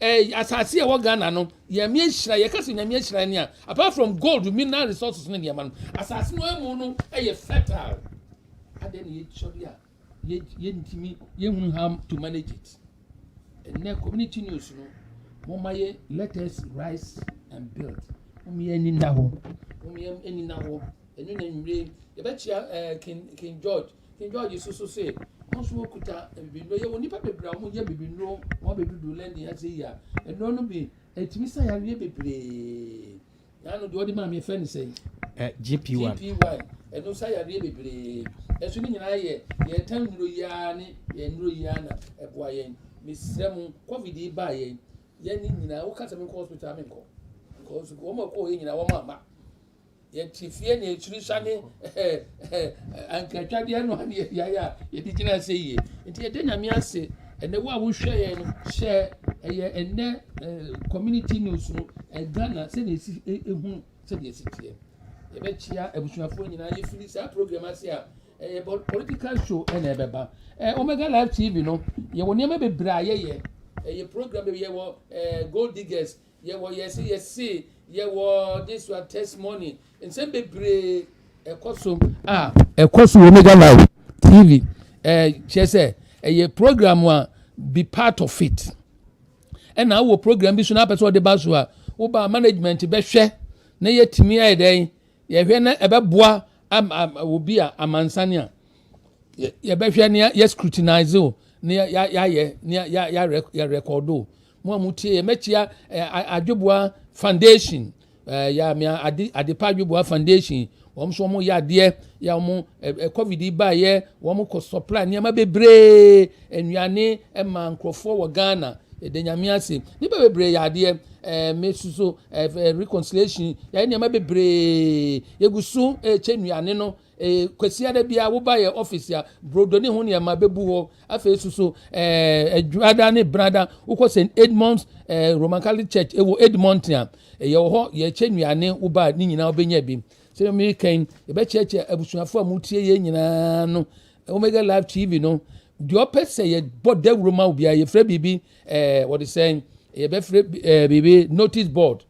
Eh, asase a ɛwɔ Ghana no, Nyame ahyira, yɛka sɛ Nyame ahyira ne a, apart from gold, mineral resources ne nneɛma no, asase no ɛmu no ɛyɛ fertile. Adɛn na yɛtwa bi a yɛntumi yɛhunu how to manage it. Ɛnɛ community news no, moma yɛ let us rise and build. Moma yɛ ani nna hɔ, moma yɛ ani nna hɔ. Ɛno na nwumire, yɛbɛkyia eh, King, King George, King George nso so se, Wɔn nso wɔkuta abibinuro. Yɛwɔ nnipa bebree a wɔyɛ abibinuro, wɔabɛdudu lɛndi ase yi a, nnuro no bi, ɛtumi sa yareɛ bebree. Yɛa no deɛ wɔde maa me yɛfrɛ no sɛn? Eh, GP1. GP1, ɛno sa yareɛ bebree. Ɛso ne nyinaa yɛ yɛta nnuro yi ara ne yɛn nnuro yi ara na ɛboa yɛn. Mesrɛ mo, COVID yi baa yɛn, yɛne nyinaa, woka sɛ menkɔ hospital a menkɔ. Because wɔn a ɛkɔɔ yɛ nyinaa wɔn amma. Yɛte fie na akyiri sane ankaatwadeɛ no ne yɛdeaeɛ a yɛde gyina sɛ yie nti yɛda nyame ase ɛnɛ wo a wohwɛ yɛn no hyɛ ɛyɛ ɛnɛ community news no ghana sɛdeɛ ɛsi ɛhunu sɛdeɛ ɛsi teɛ yɛbɛkyia abusuafoɔ nyinaa yɛfiri saa program ase a ɛyɛ political show ɛna ɛbɛba ɛɛ omega live tv no yɛwɔ nneɛma bebree a yɛyɛ ɛyɛ program yɛwɔ ɛɛ gold diggers Yɛwɔ yɛse yɛse yɛwɔ this one testimony nsɛm bebree ɛkɔ so a ɛkɔ so wɔ mega live tv ɛɛ eh, kyerɛ sɛ ɛyɛ program a be part of it ɛna awɔ program bi so na apɛ sɛ ɔde ba so a woba management bɛhwɛ na yɛtumi ayɛ dɛn yɛhwɛ na ɛbɛboa obi a amansan a yɛbɛhwɛ ne yɛ scrutinize o ne yɛayɛ ne yɛrekɔdo Mo a mo tie yɛ, mɛkyia eh, Adweboa Foundation. Eh, ya mea ade adepa Adweboa Foundation. Wɔn nso wɔn yɛ adeɛ ya wɔn eh, eh, covid yi ba yɛ wɔn kɔ supply nneɛma bebree nnuane eh, ma nkurɔfoɔ wɔ Ghana. Yɛde nyame ase. Nnipa bebree yɛ adeɛ eh, me soso eh, eh, reconciliation yɛyɛ nneɛma bebree yɛgu so eh, kyɛ nnuane no Ee, Kwasiada biara woba yɛn office a, brodo ne ho nneɛma bɛbu hɔ. Afei nso so, eh, Adwada ne Brada, wokɔ St. Edmund's eh, Roman Catholic Church ɛwɔ Edmonton a, eh, yɛwɔ hɔ, yɛkyɛ nnuane woba ne nyinaa wobɛnya bi. Sɛ meka yi, yɛbɛkyerɛkyerɛ abusuafo a motie yɛn nyinaa no, Omega Live TV no, deɛ ɔpɛ sɛ yɛbɔ dawuro ma wo biara, yɛfrɛ biribi, eh, wɔde sɛn, yɛbɛfrɛ eh, biribi notice board.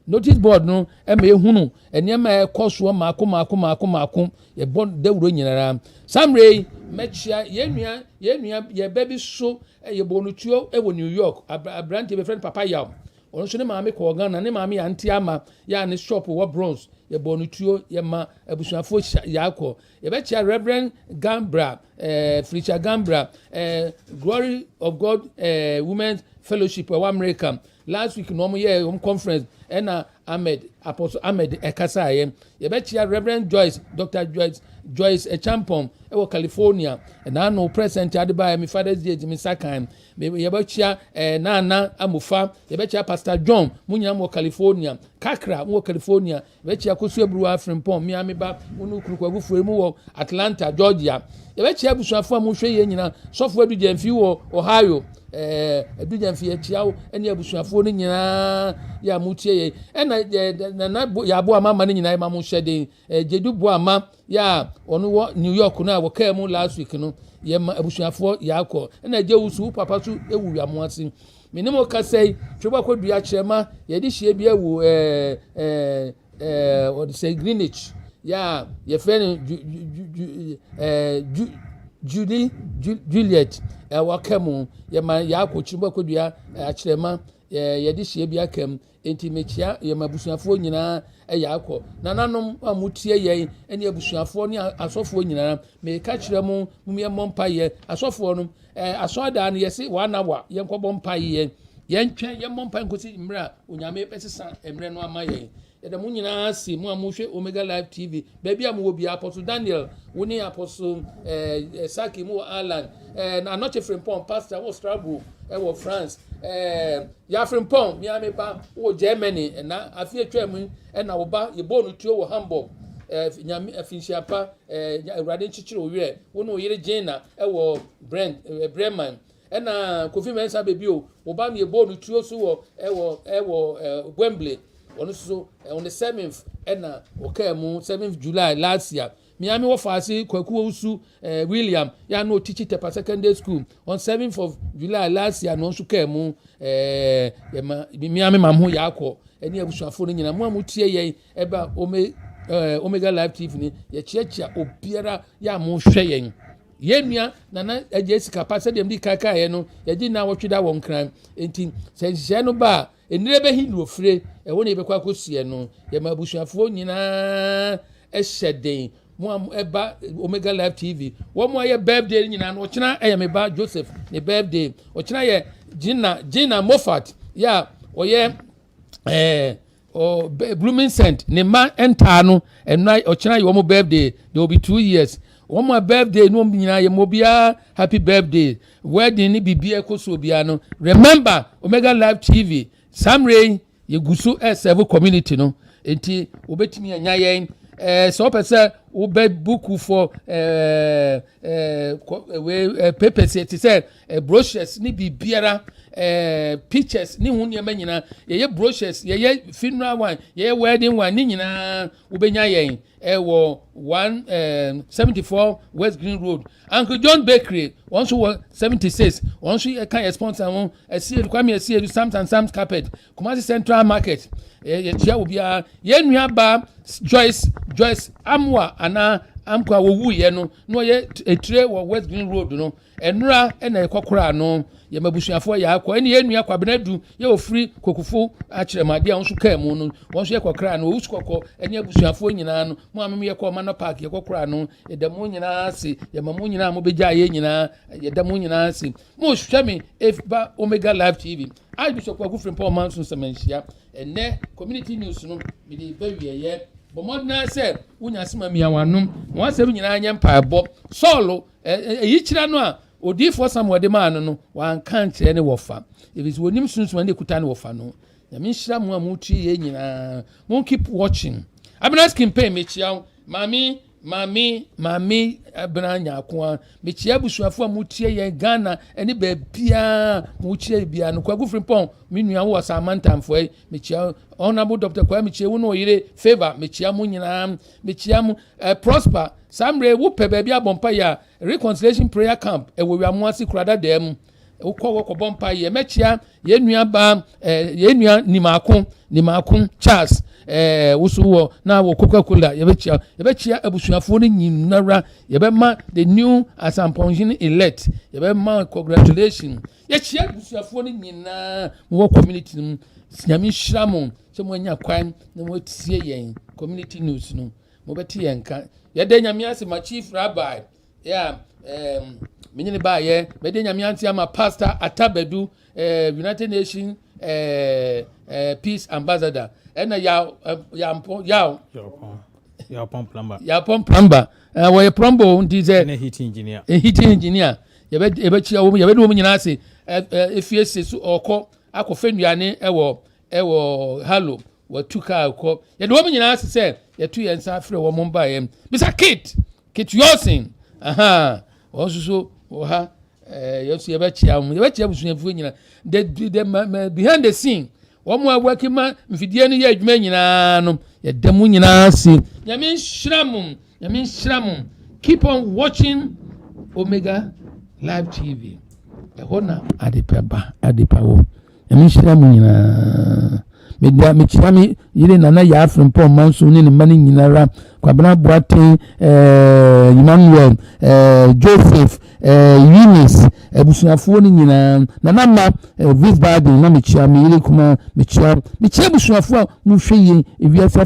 Notice board no ma yɛhunu nneɛma a ɛkɔ soɔ mmaako mmaako mmaako mmaako yɛbɔ dawuro nyinara saa mmerɛ yi mɛkyia yɛn nua yɛn nua yɛn ba bi so yɛbɔ no tuo wɔ New York aberanteɛ bɛfrɛ no Papa Yaw ɔno nso ne maame kɔɔ Ghana ne maame yɛ ante ama yɛ a ne shop wɔ Bronx yɛbɔ no tuo yɛma abusuafoɔ yaakɔ yɛbɛkyia Reverend Gambra eh, Felicia Gambra eh, Glory of God eh, Women's Fellowship ɛwɔ America Last week na wɔn yɛɛ wɔn conference ɛna Ahmed Apostle Ahmed ɛkasaeɛ yɛbɛkyia Rev Joyce Dr Joyce Joyce Ɛkyampɔn ɛwɔ California ɛna ano present adebaeɛ me father's day ti me nsa kan yɛbɛkyia ɛɛ Nana Amofa yɛbɛkyia Pastor John mo nyinaa mo wɔ California Kakra mo wɔ California Yɛbɛkyea Kosu Aburuwa Frimpong mmea me ba wo ne wo kunu Kwaku Fuayi mo wɔ Atlanta, Georgia. Yɛbɛkyea abusuafo a mo hwɛ yɛn nyina, Sɔfo Adu Gyamfi wɔ Ohio, ɛɛ Adu Gyamfi yɛkyea wo ɛne abusuafoɔ no nyinaa yɛ a mo tie yɛn. Ɛna ɛɛ Nana Yaboa Mama no nyinaa yɛma mo hyɛden, ɛɛ Gyedu Boama Yɛ a wɔn wɔ New York no a wɔkaa mu last week no, yɛ ma abusuafoɔ yɛ akɔ. Ɛna gye wo so, wo papa so ewu wia mo ase. Me ne mo kasa yi, twe wakɔ dua kyerɛma, yɛde hyia bi ɛwɔ ɛɛ ɛɛ ɛɛ wɔde sɛ Greenwich. Yɛ a yɛfrɛ no ju ju ju ju ɛɛ ju Julie ju Juliet ɛwɔ ka mu. Yɛ ma yɛ akɔ kyerɛ wakɔ dua akyerɛma, yɛde hyia bi aka mu. Enti mekyia yɛn abusuafoɔ nyinaa ɛyɛ akɔ. Nananom a motie yɛn ɛne abusuafoɔ ne asɔfoɔ nyinaa. Meka kyerɛ mo mo yɛn mmɔ mpaeɛ. Asɔfoɔ no ɛɛ asɔɔdaa no yɛsi wɔn anawa yɛn kɔ bɔ mpaeɛ. Yɛn twɛn yɛn mmɔ mpaeɛ nkosi mmerɛ a onyame bɛsesa mmerɛ no ama yɛn. Yɛda mo nyinaa ase mo a mohwɛ Omega Live TV Baabi a mowɔ biara, Apostle Daniel, wo ne Apostle eh, Saki mu wɔ Ireland, eh, na Anɔkye Frimpong, pastor wɔ Strasbourg eh, wɔ France, eh, ya Frimpong, mea me ba wɔ Germany, eh, na afi atwa mu eh, na wo ba yɛbɔɔ no tuo wɔ Hamburg, eh, nyame afinhyia eh, pa, eh, awurade nkyekyere wo werɛ, wo ne wo yere Gina eh, wɔ Brent, eh, Bremen, Ɛna Kofi Mensah ba bio, wo ba no yɛbɔɔ no tuo so wɔ wɔ wɔ Wembley, ɔno nso on the seventh ɛna ɔkaa mu, seventh July last year. Mea me wɔfa ase Kwaku Owusu eh, William, yɛ ano ɔkyichi Tepa Secondary School, on seventh of July last year na ɔno nso kaa mu, eh, yɛma mea me mam ho yɛ akɔ ɛne abusuafoɔ no nyinaa, mo a motie yɛn Ɛba ome ɛɛ Omega Live TV ni yɛkyeakyea obiara yɛ a mohwɛ yɛn. Yɛn nua nana agye sika pa sɛdeɛ mdi kan kaeɛ no yɛgye nna awɔtwe da wɔ nkran nti sɛ nhyehyɛɛ no ba a nnire bɛhi na ofire ɛhɔ na yɛbɛkɔ akɔsiɛ no yɛma abusuafoɔ nyinaa ɛhyɛ den mo a ɛba omega live tv wɔn mo ayɛ birthday no nyinaa no ɔkyena ɛyɛ me ba joseph ne birthday ɔkyena yɛ gina gina moffat yɛ a ɔyɛ ɛɛ. Eh, Oh, blooming scent. Ne ma ntaa no. And na ochina ye omo birthday. They will be two years. Omo birthday no omo nyina ye mo bia happy birthday. Wedding ni bibia ekoso bia no. Remember Omega Live TV. Samre ye guso e serve community no. Enti obetimi anya yen eh so pese wo be book for eh eh we eh, papers te se eh, brochures ne biribiara eh, pictures ne ho nneɛma nyinaa yɛyɛ brochures yɛyɛ funeral wine yɛyɛ wedding wine ne nyinaa wobɛnya yɛn ɛwɔ eh, one eh, seventy four west green road uncle john bakery wɔn nso wɔ seventy six wɔn nso yɛ kan yɛ sponsor ho ɛsiedu eh, kwame ɛsiedu eh, sams and sams carpet kumasi central market ɛɛ yɛtua wɔ biara yɛn nua ba joyce joyce amoa anaa amkwa wɔwuiɛ no na ɔyɛ etire wɔ west green road no Ɛnora na yɛkɔ koraa no, yɛ m'abusuafoɔ yɛ akɔ. Ɛne yɛn nua Kwabena Du yɛ ofiri Kokufo akyerɛmade a nso kaa mu no, wɔn nso yɛkɔ koraa no. Owusu kɔkɔ ɛne abusuafoɔ nyinaa no, mo a mo yɛkɔ Ɔmanɔ Park yɛkɔ koraa no, yɛda mo nyinaa ase. Yɛma mo nyinaa mo bɛgyaa yɛn nyinaa, yɛda mo nyinaa ase. Mo hwɛ me ba Omega Live TV. Archbishop Kwaku Frimpong Manso Nsɛmanhyia. Ɛnɛ community news no, mede ba wieɛ. Bɔ mmɔden sɛ wonya asɛm a mia wɔn ano. Wɔn asɛm nyinaa nyɛ mpaebɔ. Sɔɔlo Ayikyerɛ no a odiyifoɔ Samuel de maa no no, wanka ankyerɛ ne wɔfa, ɛfiri sɛ wɔnim sunsum ne kuta ne wɔfa no. Nyame nhyira mo a motie yɛ nyinaa. Mo keep watching. Abena skin pain mekyia wo. Maame maame maame abena nyaakoa mekyia abusuafo a motie yɛn Ghana ne baabiaa mokyia yɛ biaa no kwagu frimpɔn me nua wo ɔsaamantamfoɔ yi mekyia honorable Dr. Kwame mekyia wo ne ɔyere favor mekyia mo nyinaa Mekyia mo. Eh Prosper, saa mmerɛ yi wopɛ baabi abɔ mpaeɛ a, Reconciliation Prayer Camp ɛwɔ Wiamoase Kurada Dɛɛ mu. Wokɔ hɔ kɔbɔ mpaeɛ. Mɛkyia yɛn nua baa, eh, yɛn nua Nimaako, Nimaako Charles, eh, woso wɔ na wɔ Coca-Cola, yɛbɛkyia. Yɛbɛkyia abusuafoɔ no nyinara. Yɛbɛma the new Asampɔnhene elect, yɛbɛma congratulation. Yɛkyia abusuafoɔ no nyinaa, mowɔ community no mu. Nyame nhyira mo. sɛ moanya kwan na moatie yɛn community news no mobɛte yɛn nka yɛda nyame ase ma chief rabbi yeah, um, menye ne baayɛ mɛde nyame ase ama pastor atabadu uh, united nation uh, eh, uh, eh, peace ambassador ɛna yaw uh, yampɔ yaw yawpɔn plumber yawpɔn plumber uh, wɔyɛ plumber nti sɛ ɛna heat engineer heat engineer yɛbɛkyia wɔm yɛbɛde wɔm nyinaa ase ɛfie se so ɔkɔ akɔfɛ nnuane ɛwɔ wɔ halo wɔatu kaa kɔ yɛde wɔn nyinaa ase sɛ yɛto yɛn nsa afrɛ wɔn mbaeɛ bisa kate kate yɔsen aha wɔn nso so wɔ ha ɛɛ yɛn nso yɛbɛkyia wɔn yɛbɛkyia abusuafoɔ nyinaa the the ma ma behind the scene wɔn a wɔaki ma mfidie no yɛ adwuma nyinaa no yɛda mu nyinaa ase nyame nhyira mo Nyame nhyira mo. Keep on watching Omega Live TV. Ɛhɔ na adepa ba, adepa wɔ. Nyame nhyira mo nyinaa. Media mekyia me yere nana yɛ afiri mpɔ mma nso ne ne mma no nyinara kwabena boaten eh, emmanuel eh, joseph eh, eunice abusuafoɔ no nyinaa nana ma vis baden na mekyia me yere kuma mekyia mekyia abusuafoɔ a mohwɛ yie ewiase